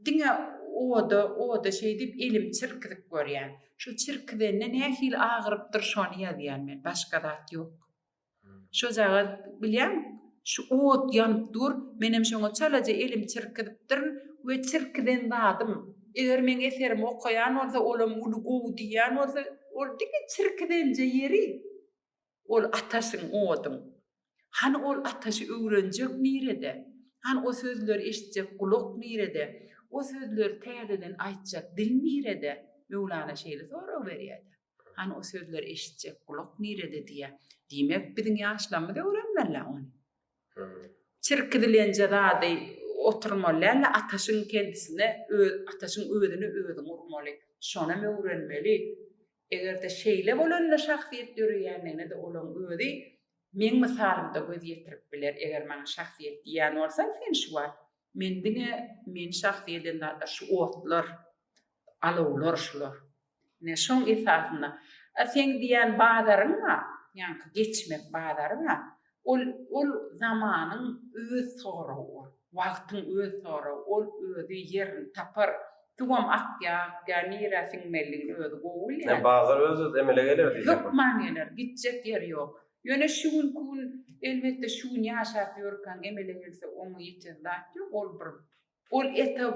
diňe oda, oda şeý diýip elimi çirkizip görýän. Şu çirkizende nähili agyrypdyr, şony ýazýan men. Başga zat ýok. Şojagaz bilýäň, şu ot ýanyp dur, menem şoňa çalaja elimi çirkizipdirin we çirkizen zadym, eger meň eserimi okaýan bolsa, olam uly gowy diýýän bolsa, ol diňe çirkizenje ýeri, ol ataşyň, oduň. Hany ol ataşy öwrenjek nirede? Hany o sözleri eşitjek gulak nirede? O sözleri täzeden aýtjak dil nirede? Möwlana şeýle sorag berýär-de. Hany o sözleri eşitjek gulak nirede diýýä. Diýmek biziň ýaşlarymyz öwrenmelä ony. Çirki dilenje zady oturmaly dälä ataşyň kendisine öz ataşyň özüne özüň urmaly. Şonam öwrenmeli. Egerde şeýle bolanda şahsyýet döreýändigine-de olaň özi meň mysalymda göz ýetirip biler. Eger maňa şahsyýet diýýän bolsaň sen şu wagt men diňe meni şahsy eden zatlar şu otlar, alowlar şular. Ine, şoň esasynda, a seň diýýän bazaryň bar, ýaňky geçmek bazary bar, ol, ol zamanyň öz soragy ol, wagtyň öz soragy, ol özi ýerini tapar, suwam akýar, akýar, nirä siňmelidigini özi gowy bilýär. Ýa bazar öz-özü emele geler diýjekmi? Hökman geler, gitjek ýeri ýok. Ýöne şu günki gün, elbetde, şu gün ýaşap ýörkäň emele gelse oňa ýeten zat ýok, ol bir Ol eta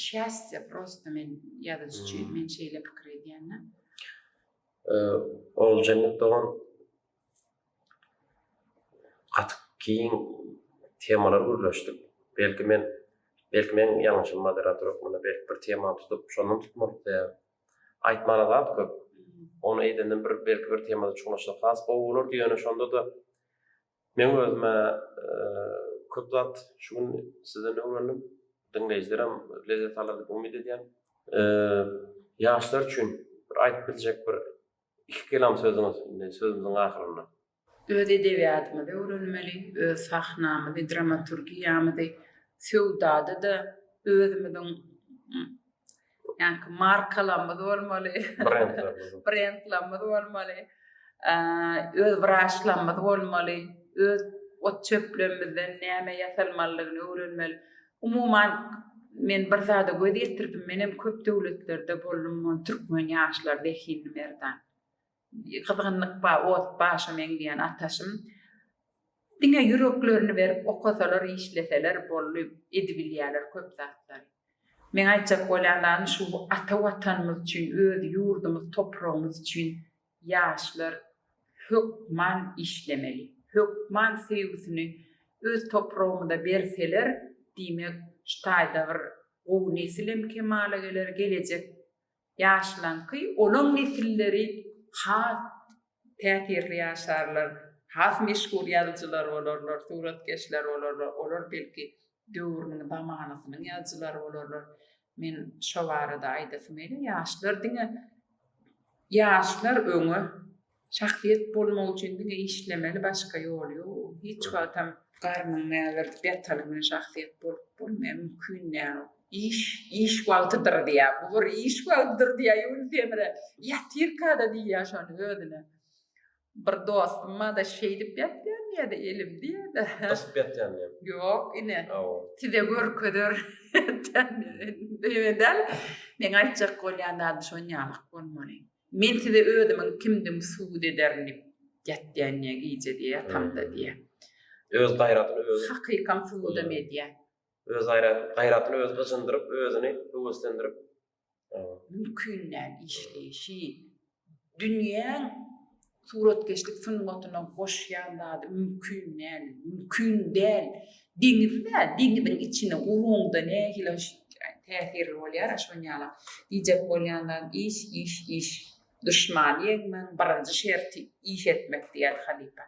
şäsde prosta men ýazyjy üçin men şeýle pikir edýän-de. Oguljennet dogan gaty giň temalar gürleşdik. Belki men belki men ýalňyşym moderator hökmünde belki bir temany tutup şondan tutmalyk diýýär. Aýtmana zat köp. Ony eýdenden bir belki bir temada çuňlaşsak has gowy bolardy ýöne şonda-da Men özüme köp zat şu gün sizden öwrendim. Diňleýjilerem lezzet alar diýip umyt edýän. Ýaşlar üçin bir aýdyp biljek bir iki kelam sözüňiz indi sözümiziň ahyrynda. Öz edebiýatymyzy öwrenmeli, öz sahnamyzy, dramaturgiýamyzy, söwdada-da özümiziň Ýaňky markalarymyz bolmaly. Brendlerimiz. Brendlerimiz bolmaly. Öz wraçlarymyz bolmaly. Öz ot çöplerimizden näme ýasalmalydygyny öwrenmeli. Umuman men bir zada göz ýetirdim. Menem köp döwletlerde boldum. Türkmen ýaşlary zehinli merdan. Gyzgynlyk bar, ot başa meňzeýän ataşym. Diňe ýüreklerini berip okasalar, işleseler boldy, edibilýärler köp zatlary. Meň aýtjak bolýan zadym şu ata watanymyz üçin, öz ýurdumyz, topragymyz üçin ýaşlar hökman işlemeli. Hökman söýgüsini öz topragymyza berseler, diýmek şu taýda bir gowy nesilem kemala geler, gelejek Ýaşlaňky olaň nesilleri has täsirli ýaşarlar, has meşhur ýazyjylar bolarlar, suratkeşler bolarlar, olar belki döwrüniň, zamanasynyň ýazyjylary bolarlar. Men şo barada aýdasym gelýär, ýaşlar diňe ýaşlar öňe. Şahsyýet bolmak üçin diňe işlemeli başga ýol ýok. Hiç wagtam garnyňy ägirdip ýataly bilen şahsyýet bolup bolmaýar, mümkin däl ol. Iş, iş wagtydyr diýýär. Bu bir iş wagtydyr diýýär Ýunus Emre. Ýatyrka-da diýýär şony özüne. Bir dostum bar-da şeýdip ýatýan diýýär-de elim diýýär-de. Gysyp ýatýan diýýär. Ýok ine. Hawa. Size görkezer ýatýan diýýär. Öýe däl. Meň aýtjak bolýan zadym şonýalyk bolmaly. Men size özümiň kimdigimi subut ederin diýip ýatýan diýýär gije diýýär ýatamda diýýär. Öz gaýratyny özi. Hakykam subudam edýär. Öz gaýratyny özi gyjyndyryp, özüni höweslendirip. Mümkin däl işleýşi. Dünýäň Suratkeşlik sungatyna goşýan zady mümkin däl, mümkin däl. Deňiz bä, deňiziň içine guruňda nähili täsirli bolýara şonýala. Diýjek bolýan zat iş, iş, iş. Duşmany ýeňmegiň birinji şerti iş etmek diýýärdi halypa.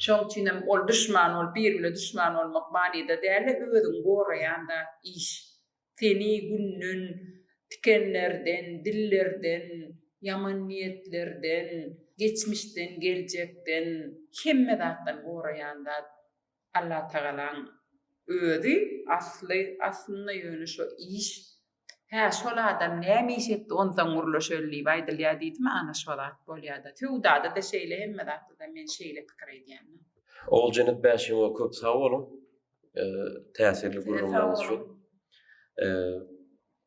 Şoň üçinem ol duşman bolup, biri bilen duşman bolmak manyda däl-de, özüňi goraýan zat iş. Seni günden, tikenlerden, dillerden, ýaman niýetlerden, geçmişden, geljekden, hemme zatdan goraýan zat Allatagalaň Özi, asly, aslynda ýöne şo iş, hä, şol adam näme iş etdi, onsoň gürleşeli diýip aýdylýar diýdimi, ana şo zat bolýar-da. Söwdada-da şeýle, hemme zatda-da men şeýle pikir edýän. Oguljanyk Bäşimow köp sag boluň. täsirli gürrüňleriňiz üçin.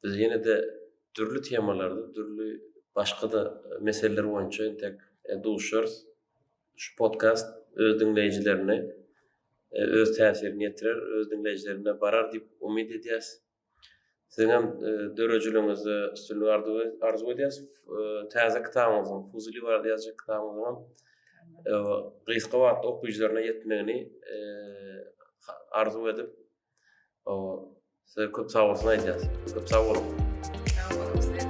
Biz ýene-de dürli temalarda, dürli başga-da meseleler boýunça entek duşarys. Şu podkast öz diňleýjilerine öz täsirini ýetirer, öz diňleýjilerine barar diýip umyt edýäs. Siziňem dörejiligiňizde üstünlik arzuw edýäs. Täze kitabyňyzyň, Fuzuli barada ýazjak kitabyňyzyňam gysga wagtda okyjylaryna ýetmegini arzuw edip, size köp sag bolsun aýdýas. Köp sag boluň.